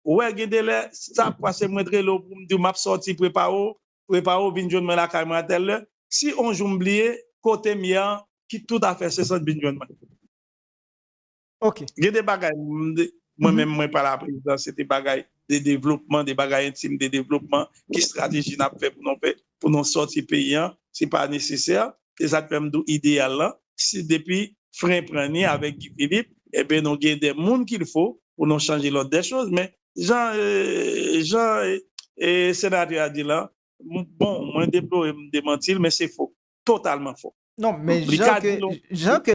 ou wè gen de lè si sa ap pase mwen t rele w poum diw map sòti prepare w prepare w vin jwenn mwen lakay mwen a tèl lè si on jou m bliye kotem ye an kit tout afè sesant vin jwenn mwen. Ok. Gen de bagay mwen menm mwen pale a prezidan se de bagay de devlopman, de bagay entim de devlopman ki strateji n ap fè pou nou fè pou nou sòti peyi an se pa nesesè se sa k fè m di w ideyal lan si depi fren pran ni avèk Guy Philippe enben nou gen de moun ki l fo pou nou chanje lòd dè choz men jan jan senatè a di lan bon mwen deplore m demanti l men se fo totalman fo non men jan ke jan ke